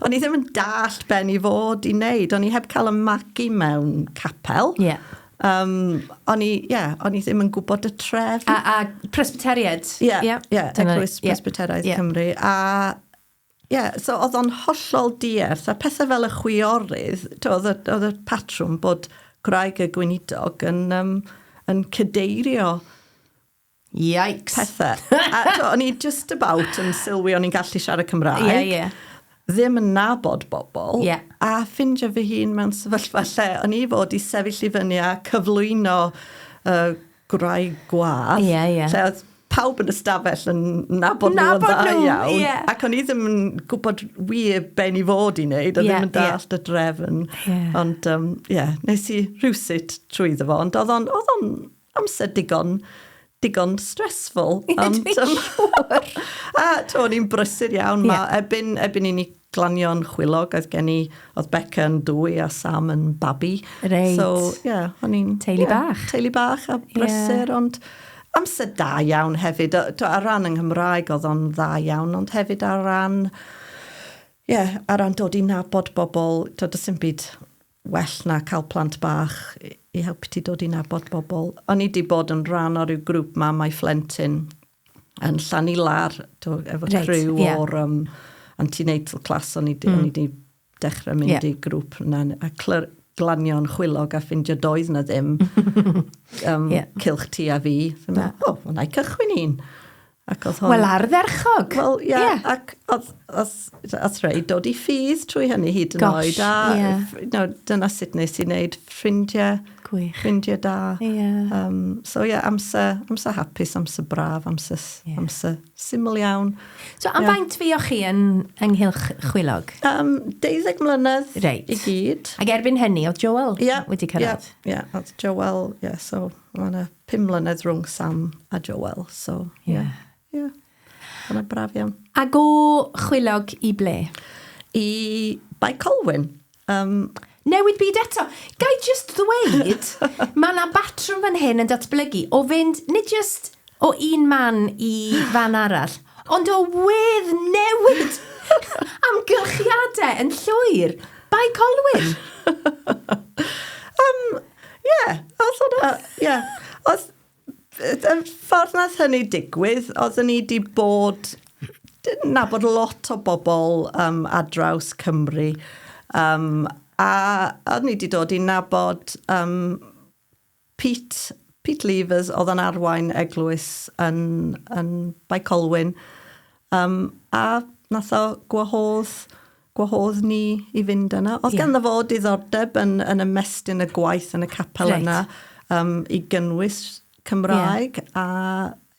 o'n i ddim yn dallt ben i fod i wneud, o'n i heb cael y magu mewn capel. Yeah. Um, o'n i, yeah, o'n i ddim yn gwybod y tref. A, a Presbyteriaid. Ie, yeah, yeah, yeah, Eglwys yeah. Presbyteraidd yeah. Cymru. A Ie, yeah, so oedd o'n hollol dierth, a pethau fel y chwiorydd, oedd y, oedd y patrwm bod gwraig y gweinidog yn, um, yn cydeirio Yikes. Pethau. A to, o'n i just about yn sylwi o'n i'n gallu siarad Cymraeg. Ie, yeah, ie. Yeah. Ddim yn nabod bobl. Ie. Yeah. A ffindio fy hun mewn sefyllfa lle o'n i fod i sefyll i fyny a cyflwyno uh, gwraig gwadd. Ie, ie. Lle oedd pawb yn y stafell yn nabod, nabod nhw'n dda iawn. Yeah. Ac o'n i ddim yn gwybod wir be ni fod i wneud, a yeah, ddim yn dallt yeah. y drefn. Yeah. Ond, ie, um, yeah, nes i rhywsut trwy ddo fo, ond oedd o'n, oedd o'n amser digon digon stressful. Ond, um, a to, o'n i'n brysur iawn. Yeah. Ma, ebyn, ebyn i ni Glanion chwilog oedd gen i. Oedd Becca yn dwy a Sam yn babi. Reit. So, ie, yeah, o'n i'n... Teulu yeah, bach. Teulu bach a brysur, yeah. ond amser da iawn hefyd. Ar ran yng Nghymraeg oedd o'n dda iawn, ond hefyd ar ran... Ie, yeah, ar ran dod i nabod bobl, to, does dim byd well na cael plant bach i helpu ti dod i nabod bobl. O'n i wedi bod yn rhan o'r grŵp ma, mae Flentyn, yn llannu lar, to, efo right, criw yeah. o'r um, antenatal class, o'n i, mm. di dechrau mynd yeah. i grŵp yna, a clyr, glanio'n chwilog a ffindio doedd na ddim um, yeah. cilch ti a fi. Fyna, o, oh, wna i cychwyn un. Ac oedd hon... Wel, ardderchog. Wel, ie. Yeah, yeah. Ac oedd, oedd, oedd rei dod i ffydd trwy hynny hyd yn Gosh, oed. A yeah. no, dyna sut nes i wneud ffrindiau Gwych. Ffrindiau da. Ie. Um, so ie, yeah, amser, amser hapus, amser braf, amser, yeah. amser syml iawn. So am yeah. faint fi o chi yn ynghylch chwilog? Um, 12 mlynedd right. i gyd. Ac erbyn hynny, oedd Joel yeah. wedi cyrraedd? Ie, yeah. yeah. oedd Joel, ie, yeah, so mae yna 5 mlynedd rhwng Sam a Joel, so ie. Yeah. Ie. Yeah. Yeah. braf iawn. Ac o chwilog i ble? I Bae Colwyn. Um, newid byd eto. Gai just ddweud, mae yna batrwm fan hyn yn datblygu o fynd, nid just o un man i fan arall, ond o wedd newid amgylchiadau yn llwyr. Bai colwyr. um, yeah, oedd hwnna, yeah. Oedd, Y ffordd nath hynny digwydd, oeddwn i wedi bod, dyn nabod lot o bobl um, ar draws Cymru, um, a oeddwn i wedi dod i nabod um, Pete, Pete Levers, oedd yn arwain eglwys yn, yn Baicolwyn, um, a nath o gwahodd gwahodd ni i fynd yna. Oedd yeah. ganddo fo diddordeb yn, yn ymestyn y gwaith yn y capel right. yna um, i gynnwys Cymraeg yeah. a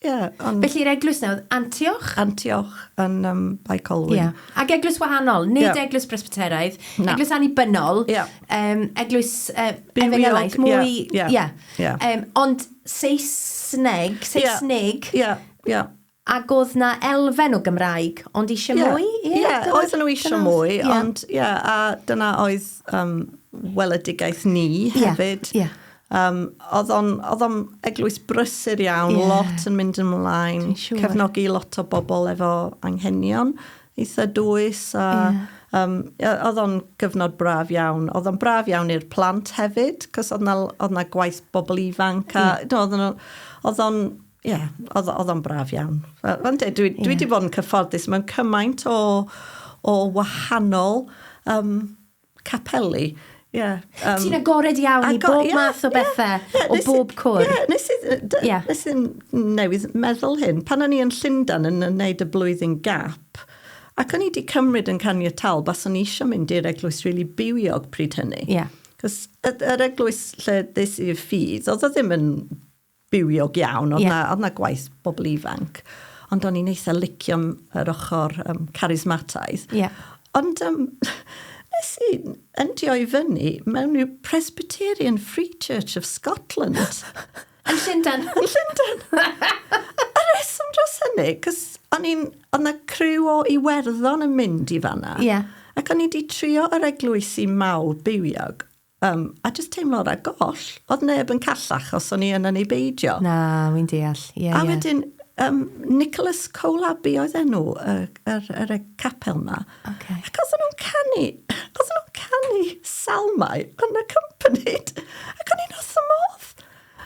Yeah, on... Felly'r eglwys nawr, Antioch? Antioch yn um, Bae Colwyn. Yeah. Ac eglwys wahanol, nid yeah. eglwys Presbyteraidd, Na. eglwys annibynnol, yeah. um, eglwys uh, efengelaidd, mwy... Yeah. Yeah. Yeah. Yeah. Um, ond Saesneg, Saesneg... Yeah. Yeah. yeah. Ac oedd 'na elfen o Gymraeg, ond isio yeah. mwy? Ie, yeah, yeah, oedden nhw isio mwy, yeah. ond ie, yeah, a dyna oedd um, weledigaeth ni hefyd. Yeah, yeah. Um, oedd o'n eglwys brysur iawn, yeah. lot yn mynd ymlaen, sure. cefnogi lot o bobl efo anghenion eitha dwys a yeah. um, oedd o'n gyfnod braf iawn. Oedd o'n braf iawn i'r plant hefyd, cos oedd na, oedd na gwaith bobl ifanc a yeah. no, oedd o'n Ie, yeah, oedd, oedd o'n braf iawn. Fel, fel dweud, dwi, yeah. dwi wedi bod yn cyfforddus mewn cymaint o, o wahanol um, capeli. Yeah, um, Ti'n agored iawn i bob yeah, math o bethau, yeah, yeah, o bob cwr. Yeah, nes, i, yeah. nes i'n newydd meddwl hyn. Pan o'n i yn Llundan yn wneud y blwyddyn gap, ac o'n i wedi cymryd yn caniatal, bas o'n i eisiau mynd i'r eglwys rili really bywiog pryd hynny. Yeah. Cos yr eglwys lle ddes i'r ffydd, oedd o ddim yn bywiog iawn, oedd 'na yeah. oedd 'na gwaith bobl ifanc, ond o'n i'n eitha licio yr ochr um, carismataidd. Yeah. Ond um, nes i endio i fyny mewn rhyw Presbyterian Free Church of Scotland. Yn Llundain. Yn Llundain. a reswm dros hynny, cos o'n i'n, oedd na criw o Iwerddon yn mynd i fanna. Ie. Yeah. Ac o'n i wedi trio yr eglwysi mawr bywiog, Yym, a jyst teimlo na goll, oedd neb yn callach os o'n i yna neu beidio. Na, wy'n deall, ie, ie. A wedyn, um, Nicholas Cole Abbey oedd enw y, yr, yr, yr capel na. Okay. Ac oedd nhw'n canu, oedd nhw'n canu salmau yn y company. Ac o'n i'n oth y modd.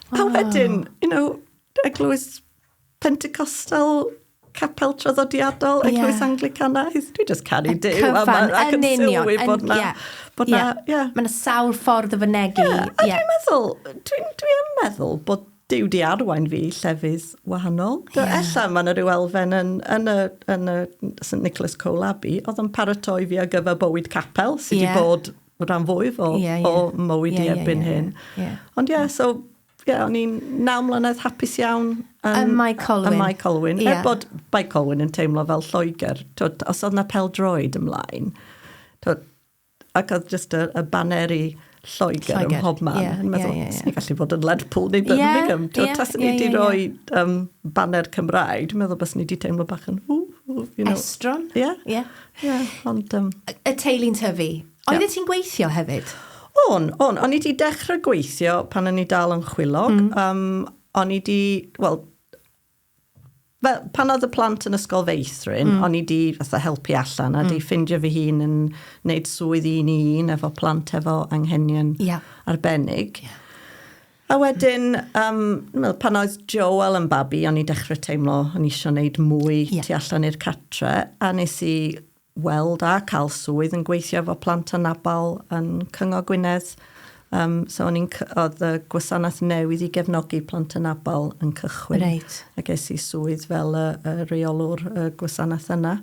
Oh. A wedyn, you know, eglwys Pentecostal capel traddodiadol yeah. Eglwys Anglicanaidd. Dwi just caru Duw. Cyfan, yn union. Yn, bod na, yeah. bod na, yeah. yeah. Mae'n sawl ffordd o fynegu. Yeah. A yeah. dwi'n meddwl, dwi'n dwi am meddwl bod Duw di arwain fi llefydd wahanol. Yeah. Ella mae yna rhyw elfen yn, yn, y, yn y St Nicholas Cole Abbey, oedd yn paratoi fi ar gyfer bywyd capel sydd wedi yeah. bod rhan fwyf o, yeah, yeah. o mywyd yeah, i erbyn yeah, yeah, hyn. Yeah. Ond ie, yeah, so Ie, o'n i'n naw mlynedd hapus iawn yn... Ym Mae Colwyn. Ym Mae Colwyn. Ie. Er bod Mae Colwyn yn teimlo fel Lloegr. Twod, os oedd na pel-droed ymlaen, twod, ac oedd jyst y, y baneri Lloegr, Lloegr. ym mhob man. Ie, ie, ie. Meddwl, ie, ie. gallu bod yn Lerpwl neu Birmingham. Ie, ie, ie, ie. Taswn i wedi rhoi um, baner Cymraeg, dwi'n meddwl bys ni wedi teimlo bach yn... Ww, you know. Estron. Ie. Ie. Ie, ond... Um... Y teulu'n tyfu Oeddet ti'n gweithio hefyd? O'n, o'n. O'n i wedi dechrau gweithio pan o'n i dal yn chwilog. Mm. Um, o'n i wedi, wel, fel, pan oedd y plant yn ysgol feithrin, mm. o'n i wedi fatha helpu allan a mm. di ffindio fy hun yn wneud swydd un i un efo plant efo anghenion yeah. arbennig. Yeah. A wedyn, um, well, pan oedd Joel yn babi, o'n i dechrau teimlo o'n i eisiau gwneud mwy yeah. tu allan i'r catre, a nes i weld a cael swydd yn gweithio efo plant anabl yn Cyngor Gwynedd. Um, so o'n i'n, oedd y gwasanaeth newydd i gefnogi plant anabl yn cychwyn. Reit. A ges i swydd fel y, y reolwr y gwasanaeth yna.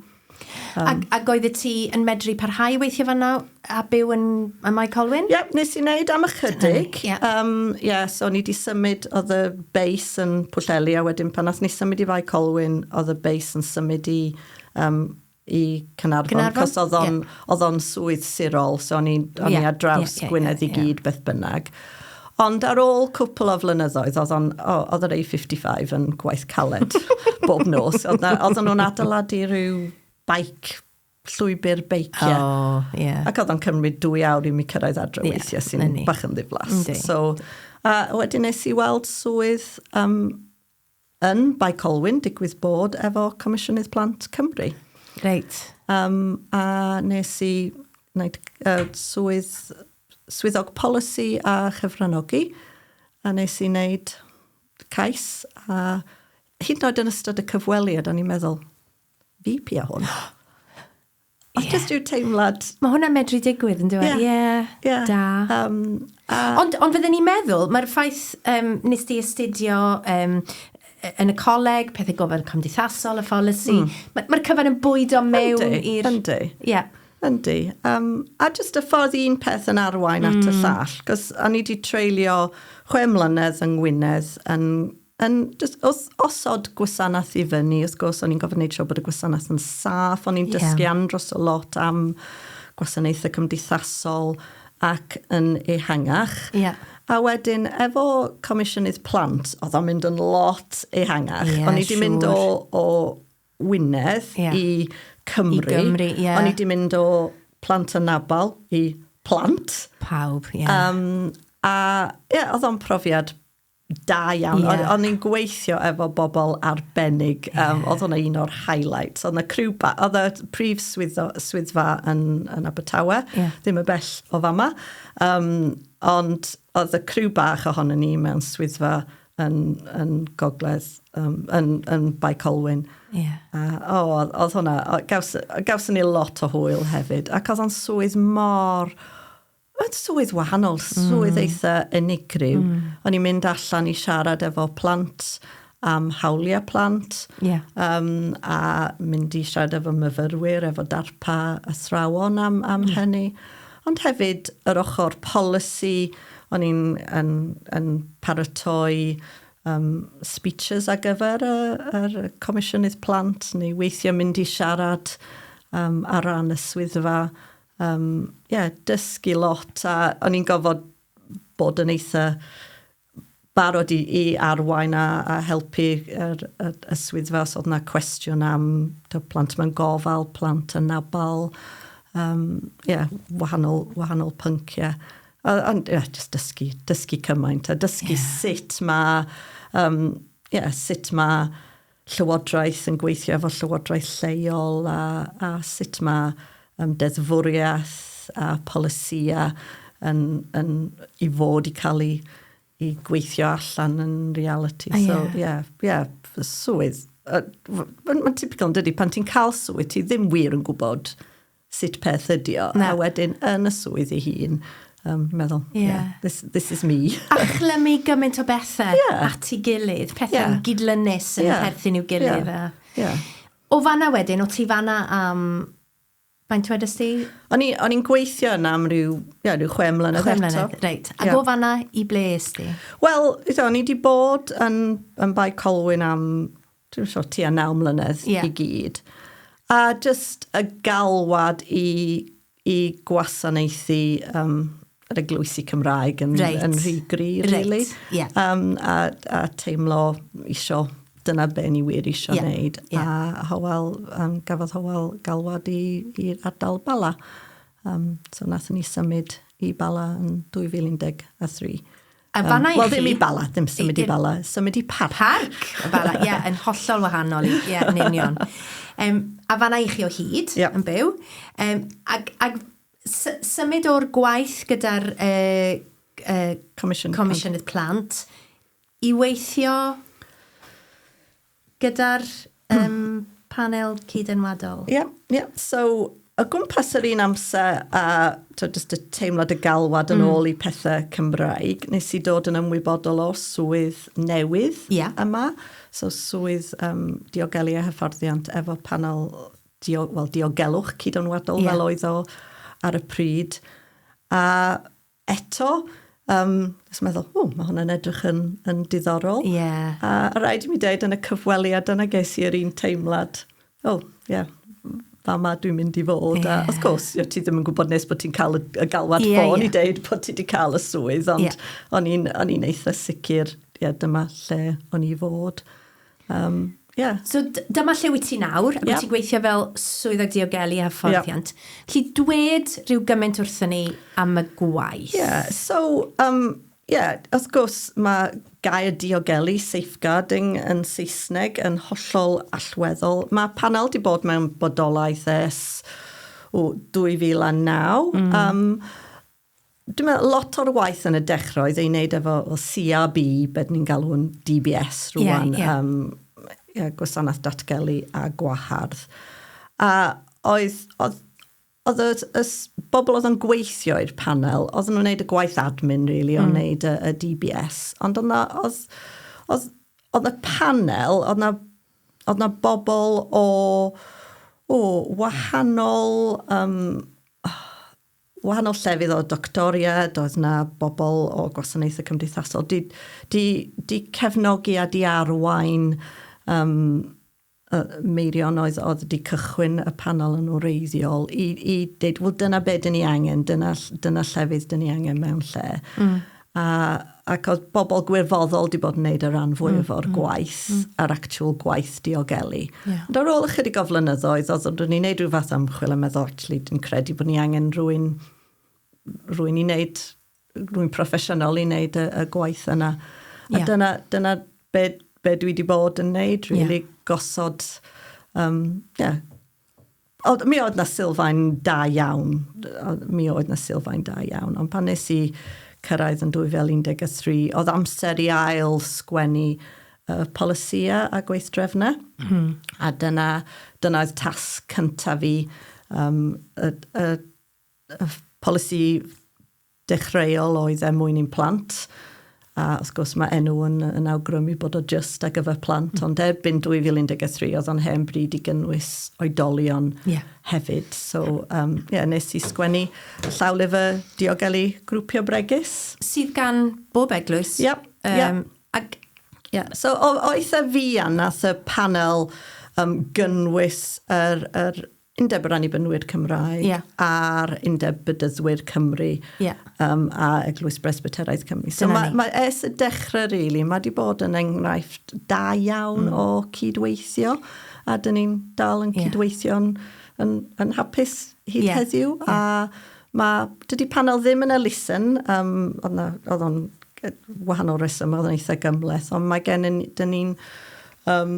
Um, ac, ac oedd y ti yn medru parhau weithio fanna a byw yn y Mae Colwyn? Ie, yep, nes i wneud am ychydig. Ie, yeah. um, yeah, so ni di symud, oedd y beis yn Pwlleli a wedyn pan nath ni symud i Fai Colwyn, oedd y beis yn symud i um, i Cynarfon, Cynarfon? cos oedd o'n yeah. on swydd sirol, so o'n i yeah, ar draws yeah, yeah, Gwynedd yeah, i gyd yeah. beth bynnag. Ond ar ôl cwpl o flynyddoedd, oedd, on, oedd yr A55 yn gwaith caled bob nos. Oedd, oedd nhw'n adeiladu rhyw baic llwybr beiciau. Oh, yeah. Ac oedd o'n cymryd dwy awr i mi cyrraedd adre yeah, weithiau sy'n bach yn ddiflas. So, a wedyn nes i weld swydd um, Yn Bae Colwyn, digwydd bod efo Comisiynydd Plant Cymru. Reit. Um, a nes i wneud uh, swydd, swyddog polisi a chyfranogi, a nes i wneud cais, a hyd yn oed yn ystod y cyfweliad, o'n i'n meddwl, fi pia hwn. Ie. Os jyst yw teimlad... Mae hwnna'n medru digwydd, yn dweud? Ie. Ie. Ie. Da. Um, a... Ond, ond fydden ni'n meddwl, mae'r ffaith um, nes di astudio um, yn y coleg, pethau gofod cymdeithasol, y pholisi, mm. mae'r ma cyfan yn bwydo mewn i'r... Yndi, yndi. Yeah. Yndi. Um, a jyst y ffordd un peth yn arwain mm. at y hmm. llall, cos o'n i wedi treulio chwe mlynedd yng Ngwynedd yn Yn jyst, os, osod gwasanaeth i fyny, wrth gwrs, o'n i'n gofyn wneud siw bod y gwasanaeth yn saff, o'n i'n dysgu yeah. andros o lot am gwasanaethau cymdeithasol ac yn ehangach. Yeah. A wedyn, efo Comisiynydd Plant, oedd o'n mynd yn lot ehangach. Yeah, o'n i wedi sure. mynd o, o Wynedd yeah. i Cymru. I Gymru, yeah. O'n i wedi mynd o plant yn nabal i plant. Pawb, ie. Yeah. Um, a, ie, yeah, oedd o'n profiad Da iawn. Yeah. O'n i'n gweithio efo bobl arbennig. Yeah. Um, oedd hwnna un o'r highlights. Oedd yna criw ba... Oedd y prif swyddfa, swyddfa yn, yn Abertawe, yeah. ddim y bell o fama. Um, ond oedd y criw bach ohono ni mewn swyddfa yn, yn gogledd, um, yn, yn Bae Colwyn. Yeah. A, o, oedd hwnna, gaws, gawson ni lot o hwyl hefyd. Ac oedd o'n swydd mor Oedd swydd wahanol, swydd mm. eitha unigryw. Mm. O'n i'n mynd allan i siarad efo plant am hawliau plant yeah. um, a mynd i siarad efo myfyrwyr, efo darpa athrawon am, am yeah. hynny. Ond hefyd yr ochr polisi, o'n i'n yn, yn paratoi um, speeches ar gyfer y, yr Comisiynnydd Plant neu weithio mynd i siarad um, ar ran y swyddfa Yym, ie, dysgu lot a o'n i'n gofod bod yn eitha barod i i arwain a a helpu yr y y swyddfa os o'dd 'na cwestiwn am t'o' plant mewn gofal, plant anabal yym ie wahanol wahanol pyncie. A ond ie jyst dysgu dysgu cymaint a dysgu... Ie. ...sut ma' yym ie sut ma' llywodraeth yn gweithio efo llywodraeth lleol a, a sut mae um, deddfwriaeth a polisïau yn, yn, i fod i cael ei i gweithio allan yn reality. Oh, so, ie, yeah. yeah, yeah, swydd. Uh, Mae'n ma typical yn dydy, pan ti'n cael swydd, ti ddim wir yn gwybod sut peth ydi o. Na. A wedyn yn y swydd ei hun, um, meddwl, yeah. yeah, this, this is me. a chlymu gymaint o bethau yeah. at ei gilydd, pethau yeah. gydlynus yn yeah. perthyn i'w gilydd. Yeah. A... Yeah. O fanna wedyn, o ti fanna am... Um, Faint wedi sti? O'n i'n gweithio yna am rhyw, ia, rhyw chwe mlynedd eto. Chwe mlynedd, reit. A yeah. go fanna i ble sti? Wel, o'n i wedi bod yn, yn Bae Colwyn am dwi'n siŵr tua naw mlynedd yeah. i gyd. A just y galwad i, i gwasanaethu um, yr eglwysi Cymraeg yn, right. yn rhy gri, really. Right. Yeah. Um, a, a teimlo isio dyna be ni wir eisiau yeah. wneud. Yeah. A Howell, um, gafodd Howell galwad i'r ardal Bala. Um, so nath ni symud i Bala yn 2013. A fanna i chi... Wel, ddim i Bala, ddim symud i Bala, symud i Parc. Parc, y Bala, ie, yn hollol wahanol, ie, yn union. Um, a fanna i chi o hyd, yep. yn byw. Um, ag, ag symud o'r gwaith gyda'r uh, uh, Comisiwn Comisiynydd Plant i weithio Gyda'r yym panel cyd-enwadol? Ie, ie. So, o gwmpas yr un amser a t'od jyst y teimlad y galwad yn ôl i pethe Cymraeg, nes i dod yn ymwybodol o swydd newydd... Ie. ...yma. So swydd yym diogelu a hyfforddiant efo panel dio- wel diogelwch cyd-enwadol... Ie. ...fel oedd o ar y pryd. A eto, um, nes meddwl, o, mae hwnna'n edrych yn, yn diddorol. Yeah. A, a rhaid i mi dweud, yn y cyfweliad yna ges i yr un teimlad, o, oh, ie, yeah, fa ma dwi'n mynd i fod. Yeah. A, of course, yeah, ti ddim yn gwybod nes bod ti'n cael y, y galwad yeah, ffôn yeah. i dweud bod ti wedi cael y swydd, ond yeah. o'n i'n eitha sicr, ie, yeah, dyma lle o'n i fod. Um, yeah. So dyma lle wyt ti nawr, ac yep. wyt ti'n gweithio fel swyddog diogelu a hyfforddiant. Yep. Lly dwed rhyw gymaint wrthyn ni am y gwaith. Yeah, so, um, yeah, wrth gwrs mae gair diogelu, safeguarding yn Saesneg, yn hollol allweddol. Mae panel di bod mewn bodolaeth es o 2009. Mm. Um, Dwi'n meddwl lot o'r waith yn y dechrau oedd ei wneud efo o CRB, beth ni'n galw'n DBS rwan, yeah, yeah. Um, yeah, gwasanaeth datgelu a gwahardd. A oedd, oedd, oedd y, y bobl oedd yn gweithio i'r panel, oedd nhw'n gwneud y gwaith admin, really, mm. o'n wneud y, y DBS. Ond oedd, oedd, oedd, oedd y panel, oedd na, oedd na bobl o, o wahanol... Um, wahanol llefydd o doctoriad, oedd na bobl o gwasanaethau cymdeithasol, di, di, di cefnogi a di arwain um, uh, meirion oedd, oedd wedi cychwyn y panel yn wreiddiol i, i dweud, wel dyna be dyn ni angen, dyna, dyna llefydd dyn ni angen mewn lle. Mm. A, ac oedd bobl gwirfoddol wedi bod yn gwneud y rhan fwyaf o'r gwaith, yr actual gwaith diogelu. Ond ar ôl ychydig o flynyddoedd, oedd o'n ni'n gwneud rhyw fath o ymchwil a meddwl, actually, dwi'n credu bod ni angen rwy'n, rwy'n i wneud, rwy'n proffesiynol i wneud y, y gwaith yna. A yeah. dyna, dyna be, be dwi wedi bod yn wneud, really, yeah. gosod, um, yeah, Oedd, mi oedd na sylfaen da iawn, mi oedd na sylfaen da iawn, ond pan nes i cyrraedd yn 2013, oedd amser i ail sgwennu uh, polisia a gweithdrefna, mm. a dyna, dyna oedd tasg cyntaf fi, um, y, y, y polisi dechreuol oedd er mwyn i'n plant, a wrth gwrs mae enw yn, yn awgrymu bod o just ar gyfer plant, mm. ond erbyn 2013 oedd o'n hen bryd i gynnwys oedolion yeah. hefyd. So, um, yeah, nes i sgwennu llawlyfr diogelu grwpio bregus. Sydd gan bob eglwys. Yep, um, yep. Ac... Yeah. So, oedd y fi a nath y panel um, gynnwys yr, er, er, Undeb yr Annibynwyr Cymraeg yeah. a'r Undeb Bydyddwyr Cymru yeah. um, a Eglwys Bresbyteraidd Cymru. So mae ma, es y dechrau, really, mae wedi bod yn enghraifft da iawn mm. o cydweithio a dyn ni'n dal yn yeah. cydweithio'n yn, yn hapus hyd yeah. heddiw yeah. a mae, dydy panel ddim yn elusen, um, oedd o'n wahanol reswm, oedd o'n eitha gymleth, ond mae gen i, dyn ni'n um,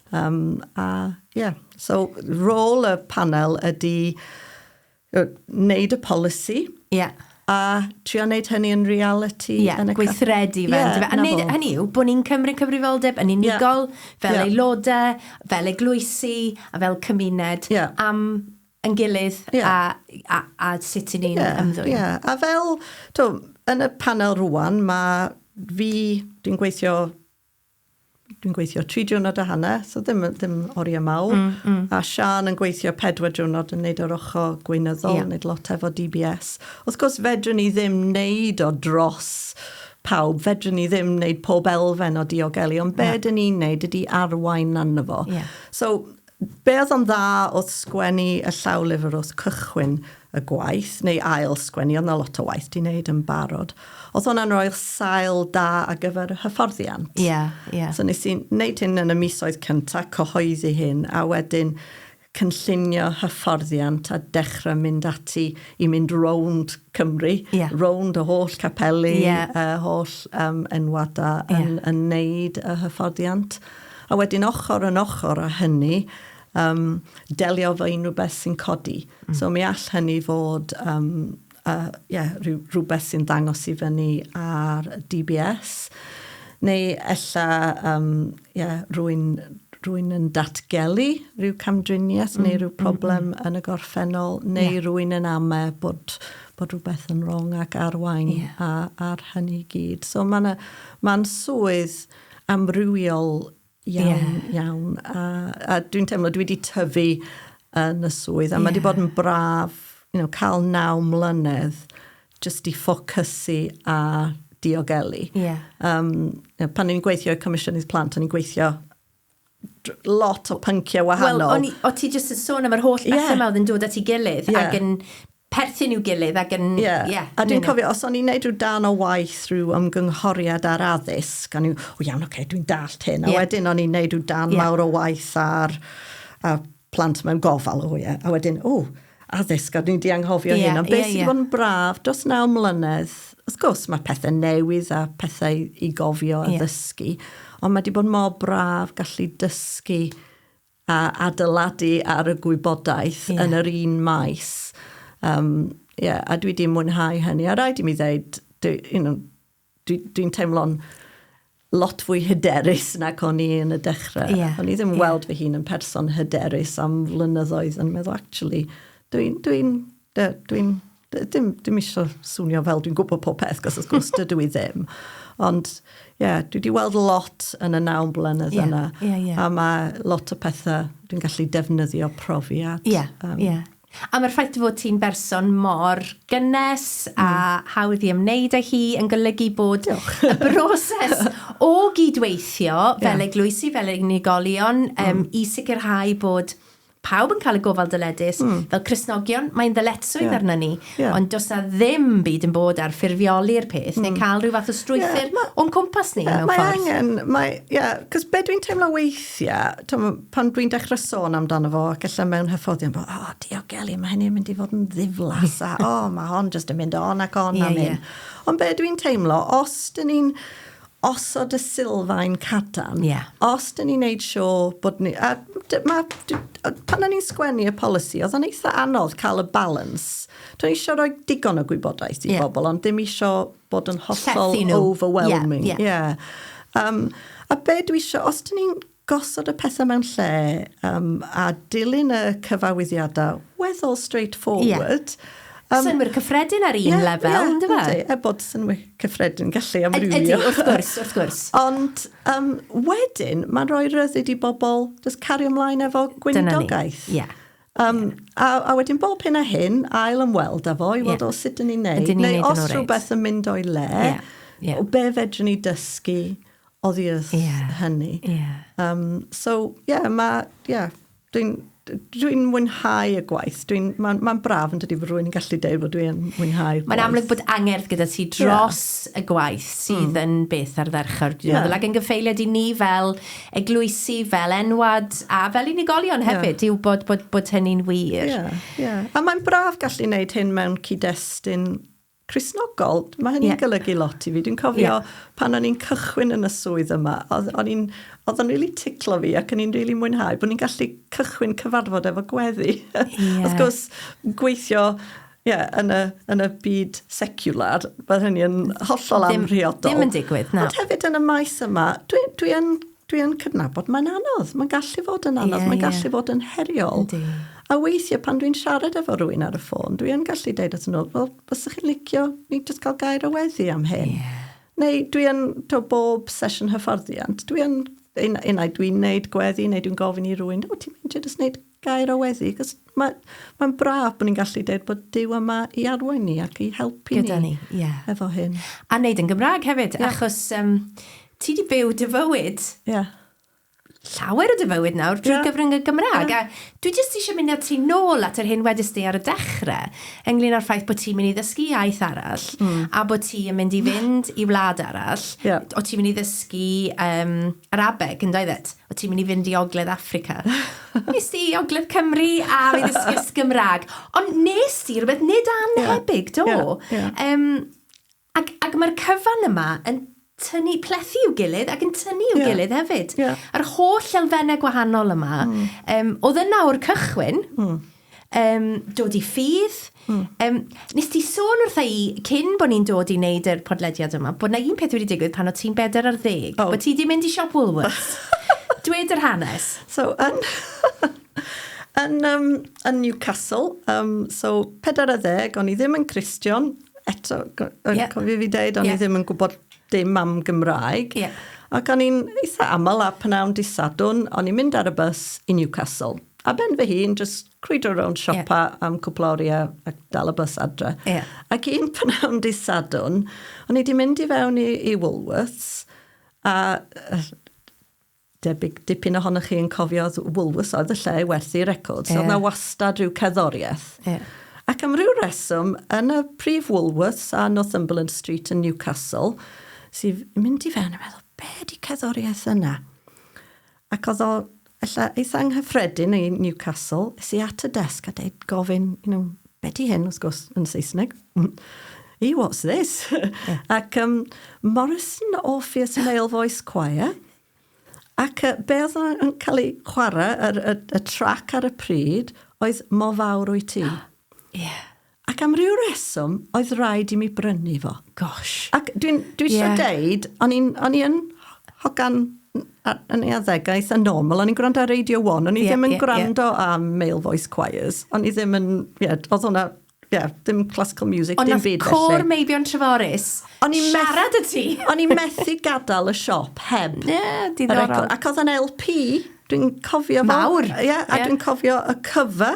Um, a, yeah. So, rôl y panel ydy wneud y polisi. Yeah a trio wneud hynny yn reality. Ie, yeah, gweithredu fe. Yeah, a wneud hynny yw bod ni'n cymryd cyfrifoldeb yn unigol, yeah. fel yeah. aelodau, fel eglwysi, a fel cymuned, yeah. am yn gilydd yeah. a, a, a sut i ni'n yeah, ymddwyn. Yeah. A fel, to, yn y panel rwan, mae fi, dwi'n gweithio dwi'n gweithio tri diwrnod a hanner, so ddim, ddim oriau mawr. Mm, mm. A Sian yn gweithio pedwar diwrnod yn neud o'r ochr gweinyddol, yeah. neud lot efo DBS. Wrth gwrs, fedrwn ni ddim neud o dros pawb, fedrwn ni ddim neud pob elfen o diogelu, ond be yeah. dyn ni'n neud ydy arwain arno fo. Yeah. So, Be oedd o'n dda wrth sgwennu y llawlyfr wrth cychwyn y gwaith, neu ail sgwennu, oedd 'na lot o waith 'di neud yn barod. Oedd hwnna'n roi'r sail da ar gyfer y hyfforddiant. Ie, ie. So nes i neud hyn yn y misoedd cynta, cyhoeddi hyn, a wedyn cynllunio hyfforddiant a dechra mynd ati i mynd rownd Cymru. Ie. Rownd y holl capeli. Ie. Y holl yym enwada. Ie. Yn yn neud y hyfforddiant. A wedyn ochr yn ochr â hynny, um, delio fo unrhyw beth sy'n codi. Mm. So mi all hynny fod um, uh, yeah, rhywbeth sy'n ddangos i fyny ar DBS, neu ella um, yeah, rwy'n rwy'n yn datgelu rhyw camdriniaeth mm, neu rhyw mm, problem mm, mm. yn y gorffennol, neu yeah. rwy'n yn ame bod, bod rhywbeth yn wrong ac arwain yeah. ar hynny i gyd. So mae'n ma, swydd amrywiol iawn, yeah. iawn. A, a dwi'n teimlo, dwi wedi tyfu yn y swydd, a yeah. mae wedi bod yn braf you know, cael naw mlynedd jyst i ffocysu a diogelu. Yeah. Um, pan ni'n gweithio i Comisiynydd Plant, o'n i'n gweithio lot o pynciau wahanol. Wel, o ti jyst yn sôn am yr holl bethau yeah. yma oedd yn dod at ei gilydd yeah. ac yn perthyn i'w gilydd ac yn... Ie. Ie. A dwi'n cofio, os o'n i'n neud rhyw darn o waith, rhyw ymgynghoriad ar addysg, o'n i'n, o iawn, oce, dwi'n dallt hyn. A wedyn o'n i'n neud rhyw darn mawr o waith ar plant mewn gofal, o ie. A wedyn, o, addysg, a dwi 'di anghofio hyn. Ond be' sy' 'di bod yn braf dros naw mlynedd, wrth gwrs, mae pethe newydd a pethau i gofio a ddysgu, ond mae 'di bod mor braf gallu dysgu a adeiladu ar y gwybodaeth yeah. yn yr un maes. Um, yeah, a dwi wedi mwynhau hynny. A rhaid i mi ddeud, dwi'n you know, dwi, dwi teimlo'n lot fwy hyderus nag o'n i yn y dechrau. Yeah. O'n i ddim yeah. weld fy hun yn person hyderus am flynyddoedd yn meddwl, actually, dwi'n dwi dwi dwi Dim, dim eisiau swnio fel dwi'n gwybod pob peth, gos wrth gwrs dydw i ddim. Ond, ie, yeah, dwi wedi weld lot yn y nawn blynedd yeah, yna. Yeah, yeah. A mae lot o pethau dwi'n gallu defnyddio profiad. Ie, yeah, um, yeah. A mae'r ffaith fod ti'n berson mor gynnes mm. a hmm. hawdd i ymwneud â hi yn golygu bod Diolch. y broses o gydweithio fel yeah. eglwysi, fel unigolion, um, mm. i sicrhau bod Pawb yn cael y gofal dyledus. Mm. Fel Cristnogion, mae'n ddyletswydd yeah. arna ni. Yeah. Ond does na ddim byd yn bod ar ffurfioli'r peth, mm. neu cael rhyw fath o strwythyr yeah, o'n cwmpas ni yeah, mewn mae ffordd. Angen, mae angen, ie, yeah, cos be dwi'n teimlo weithiau, tom, pan dwi'n dechrau sôn amdano fo, ac allan mewn hyfforddion, bod, o, oh, diogelu, mae hynny'n mynd i fod yn ddiflas, a o, oh, mae hon jyst yn mynd on ac on yeah, am hyn. Yeah. Ond be dwi'n teimlo, os dyn ni'n osod y sylfaen cadarn. Yeah. Os dyn ni'n neud sio bod ni... A ma, pan o'n ni'n sgwennu y polisi, oedd o'n eitha anodd cael y balans. Dwi'n eisiau rhoi digon o gwybodaeth i yeah. bobl, ond dim eisiau bod yn hollol overwhelming. Yeah, yeah. yeah. Um, a be dwi eisiau, os dyn ni'n Gosod y pethau mewn lle um, a dilyn y cyfawyddiadau weddol straightforward. Yeah. Um, synwyr cyffredin ar un yeah, lefel, yeah, ynddo fe? Ydy, er bod synwyr cyffredin gallu amrywio. Ydy, wrth gwrs, wrth gwrs. Ond um, wedyn, mae'n rhoi ryddid i bobl just cario ymlaen efo gwynidogaeth. Dyna ni, ie. Yeah. Um, a, a wedyn bob hyn a hyn, ail ymweld â fo i weld yeah. o sut yn ni'n neud. Neu os rhywbeth yn mynd o'i le, yeah. Yeah. o be fedrwn ni dysgu oddi wrth yeah. hynny. Yeah. Um, so, ie, yeah, mae, ie, yeah, dwi'n dwi'n mwynhau y gwaith. Mae'n ma, braf yn dydi bod rwy'n gallu deud bod dwi'n mwynhau gwaith. Mae'n amlwg bod angerdd gyda ti dros yeah. y gwaith sydd mm. yn beth ar ddechrau'r diwedd. Yeah. Ac yn gyffeiliad i ni fel eglwysi, fel enwad, a fel unigolion hefyd, yeah. yw bod, bod, bod hynny'n wir. Yeah. Yeah. A mae'n braf gallu wneud hyn mewn cyd-destun Cristnogol, mae hynny'n golygu lot i fi. Dwi'n cofio pan o'n i'n cychwyn yn y swydd yma, oedd yn rili ticlo fi ac yn i'n rili mwynhau bod ni'n gallu cychwyn cyfarfod efo gweddi. Yeah. Wrth gwrs, gweithio yeah, yn, y, yn y byd secular, bydd hynny yn hollol amhriodol. Dim yn digwydd, na. Ond hefyd yn y maes yma, dwi, dwi yn Dwi yn cydnabod, mae'n anodd, mae'n gallu fod yn anodd, yeah, mae'n gallu yeah. fod yn heriol. Ydy. A weithiau pan dwi'n siarad efo rwy'n ar y ffôn, dwi yn gallu deud at nhw, wel, os ydych chi'n licio, ni jyst cael gair o weddi am hyn. Yeah. Neu dwi yn, to bob sesiwn hyfforddiant, dwi yn, unai dwi'n neud gweddi, neu dwi'n gofyn i rwy'n, o, ti'n mynd i jyst neud gair o weddi, cos mae'n ma braf bod ni'n gallu dweud bod Dyw yma i arwain ni ac i helpu Gyda ni, ni yeah. efo hyn. A wneud yn Gymraeg hefyd, yeah. achos um, ti di byw dy fywyd yeah. llawer o dy fywyd nawr drwy yeah. gyfrwng y Gymraeg. Yeah. A dwi jyst eisiau mynd â ti nôl at yr hyn wedys di ar y dechrau, ynglyn â'r ffaith bod ti'n mynd i ddysgu iaith arall, mm. a bod ti'n mynd i fynd i wlad arall, yeah. o ti'n mynd i ddysgu... Um, Arabeg, yn doedd it? O ti'n mynd i fynd i Ogledd Africa? Nes di i Ogledd Cymru a fi ddysgus Gymraeg. Ond nes di rhywbeth nid anhebyg, do? Yeah, yeah. Um, ac ac mae'r cyfan yma yn tynnu plethu i'w gilydd ac yn tynnu i'w yeah. gilydd hefyd. Yeah. Yr holl elfennau gwahanol yma. Mm. Um, oedd yna o'r cychwyn. Mm um, dod i ffydd. Mm. Um, nes ti sôn wrtha i, cyn bod ni'n dod i wneud yr podlediad yma, bod na un peth wedi digwydd pan o ti'n bedair ar ddeg, oh. bod ti wedi mynd i siop Woolworths. Dwed yr hanes. So, yn... yn, um, yn Newcastle, um, so pedair ar ddeg, o'n i ddim yn Christian, eto, yn yeah. cofio fi dweud, o'n yeah. i ddim yn gwybod dim am Gymraeg. Yeah. Ac o'n i'n eitha aml a pnawn di sadwn, o'n i'n mynd ar y bus i Newcastle. Ar ben fy hun, jyst crwydro rownd siopa yeah. am cwpl o oriau ac dal y bus adre. Yeah. Ac un pnawn di sadwn, o'n i di mynd i fewn i, i Woolworths a debyg dipyn ohonoch chi yn cofio Woolworths oedd y lle i werthu records. Yeah. Oedd na wastad rhyw ceddoriaeth. Yeah. Ac am ryw reswm, yn y prif Woolworths a Northumberland Street yn Newcastle, sy'n mynd i fewn a meddwl, be di ceddoriaeth yna? Ac oedd o ella eitha anghyffredin i Newcastle. Es i at y desg a deud, gofyn, you know, be di hyn, wrth gwrs, yn Saesneg. E, what's this? Yeah. Ac um, Morrison Orpheus Male Voice Choir. Ac uh, be oedd yn cael ei chwarae, y, y, y trac ar y pryd, oedd Mo Fawr Wyt Ti. Yeah. Ac am ryw reswm, oedd rhaid i mi brynu fo. Gosh. Ac dwi'n dwi yeah. eisiau deud, o'n i'n, o'n i'n hogan yn ei addegaeth yn normal, o'n i'n gwrando ar Radio 1, o'n i yeah, ddim yn yeah, gwrando yeah. am male voice choirs, o'n i ddim yn, ie, yeah, oedd hwnna yeah, dim classical music, Ond dim byd felly. Ond cor Meibion Treforys, siarad y ti. O'n i'n methu gadael y siop heb. Ie, yeah, diddorol. Ac oedd yn LP, dwi'n cofio fo. Mawr. Ie, yeah, a yeah. dwi'n cofio y cyfa.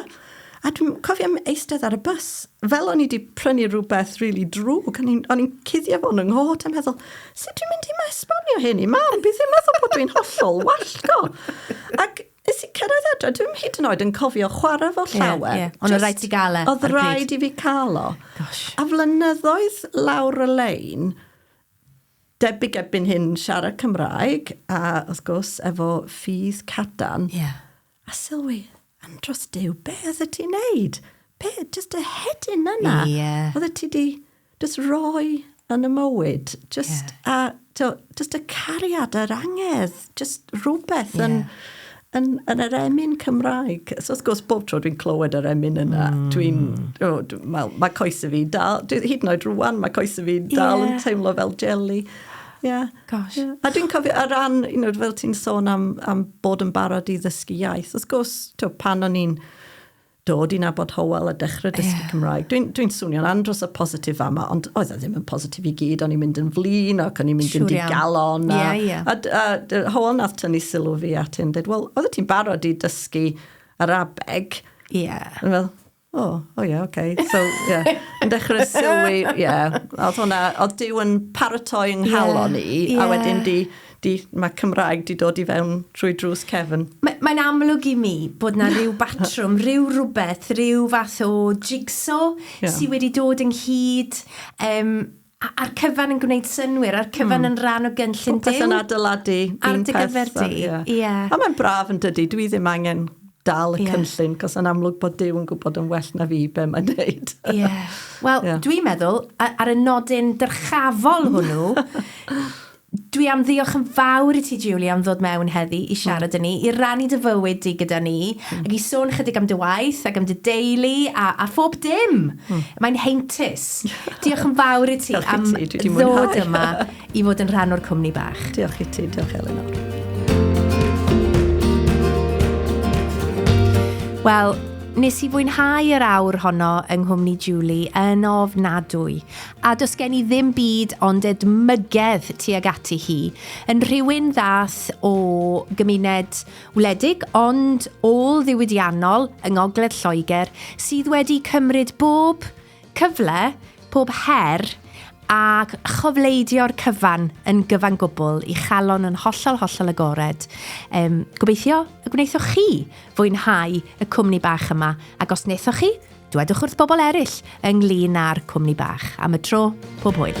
A dwi'n cofio eistedd ar y bus, fel o'n i wedi prynu rhywbeth rili really drwg, o'n i'n i cuddio fo'n yng nghod, yn meddwl, sut dwi'n mynd i ma esbonio hyn i mam, bydd hi'n meddwl bod dwi'n hollol wallgo. Ac nes i cyrraedd adre, dwi'n hyd yn oed yn cofio chwarae fo llawer. Yeah, yeah. Ond rhaid ti gael e. Oedd rhaid i fi cael o. Gosh. A flynyddoedd lawr y lein, debyg ebyn hyn siarad Cymraeg, a wrth gwrs efo ffydd cadan. Yeah A sylwi, andros dew, be oedd y ti'n neud? Be, just y hedyn yna? Ie. Yeah. Oedd y ti di just roi yn y mywyd, just, yeah. a, to, just y cariad a'r angerdd, just rhywbeth yeah. yn, yn, yn yr emyn Cymraeg. So, wrth gwrs, bob tro dwi'n clywed yr emyn yna, mm. dwi'n... Oh, dwi, mae, mae coes y fi dal... Dwi, hyd yn oed rwan, mae coes y fi dal yeah. yn teimlo fel jelly. Yeah. Gosh. Ie. A dwi'n cofio o ran you know fel ti'n sôn am am bod yn barod i ddysgu iaith wrth gwrs t'wo' pan o'n i'n dod i nabod Hywel a dechre dysgu... Ie. ...Cymraeg dwi'n dwi'n swnio'n andros o positif fama ond oedd e ddim yn positif i gyd o'n i'n mynd yn flin ac o'n i'n mynd yn digalon... Siŵr iawn. ...a... Ie ie. ...a d- a dy- Hywel nath tynnu sylw fi at hyn deud wel oddet ti'n barod i dysgu Arabeg. Ie. O'n i fel O, o ie, oce. So, ie, yn dechrau sylwi, ie. Oedd hwnna, oedd Dyw yn paratoi yng nghalon i, a wedyn di, di, mae Cymraeg di dod i fewn trwy drws cefn. Mae, mae'n amlwg i mi bod na rhyw batrwm, rhyw rhywbeth, rhyw fath o jigsaw yeah. sydd wedi dod ynghyd. Um, A- a'r cyfan yn gwneud synwyr, a'r cyfan mm. yn rhan o gynllun Popeth yn adeiladu ar dy gyfer di. Yeah. Yeah. A mae'n braf yn dydy, dwi ddim angen dal y yeah. cynllun, cos yn amlwg bod Dyw yn gwybod yn well na fi be mae'n neud. Ie. Yeah. Wel, yeah. dwi'n meddwl, ar y nodyn dyrchafol hwnnw, Dwi am ddiolch yn fawr i ti Julie am ddod mewn heddi i siarad â ni, i rannu dy fywyd di gyda ni, ac i sôn chydig am dy waith ac am dy deulu a, a phob dim! Mae'n heintus! Diolch yn fawr i ti am ddod yma i fod yn rhan o'r cwmni bach. Diolch i ti, diolch Elinor. Wel, nes i fwynhau yr awr honno yng nghwmni Julie yn ofnadwy. A does gen i ddim byd ond edmygedd tuag ati hi. Yn rhywun ddaeth o gymuned wledig ond ôl-ddiwydiannol yng ngogledd Lloegr sydd wedi cymryd bob cyfle, pob her a chofleidio'r cyfan yn gyfan gwbl i chalon yn hollol, hollol agored. Gobeithio y gwnaethoch chi fwynhau y cwmni bach yma ac os wnaethoch chi, Dwedwch wrth bobl eraill ynglŷn â'r cwmni bach. Am y tro, pob hwyl!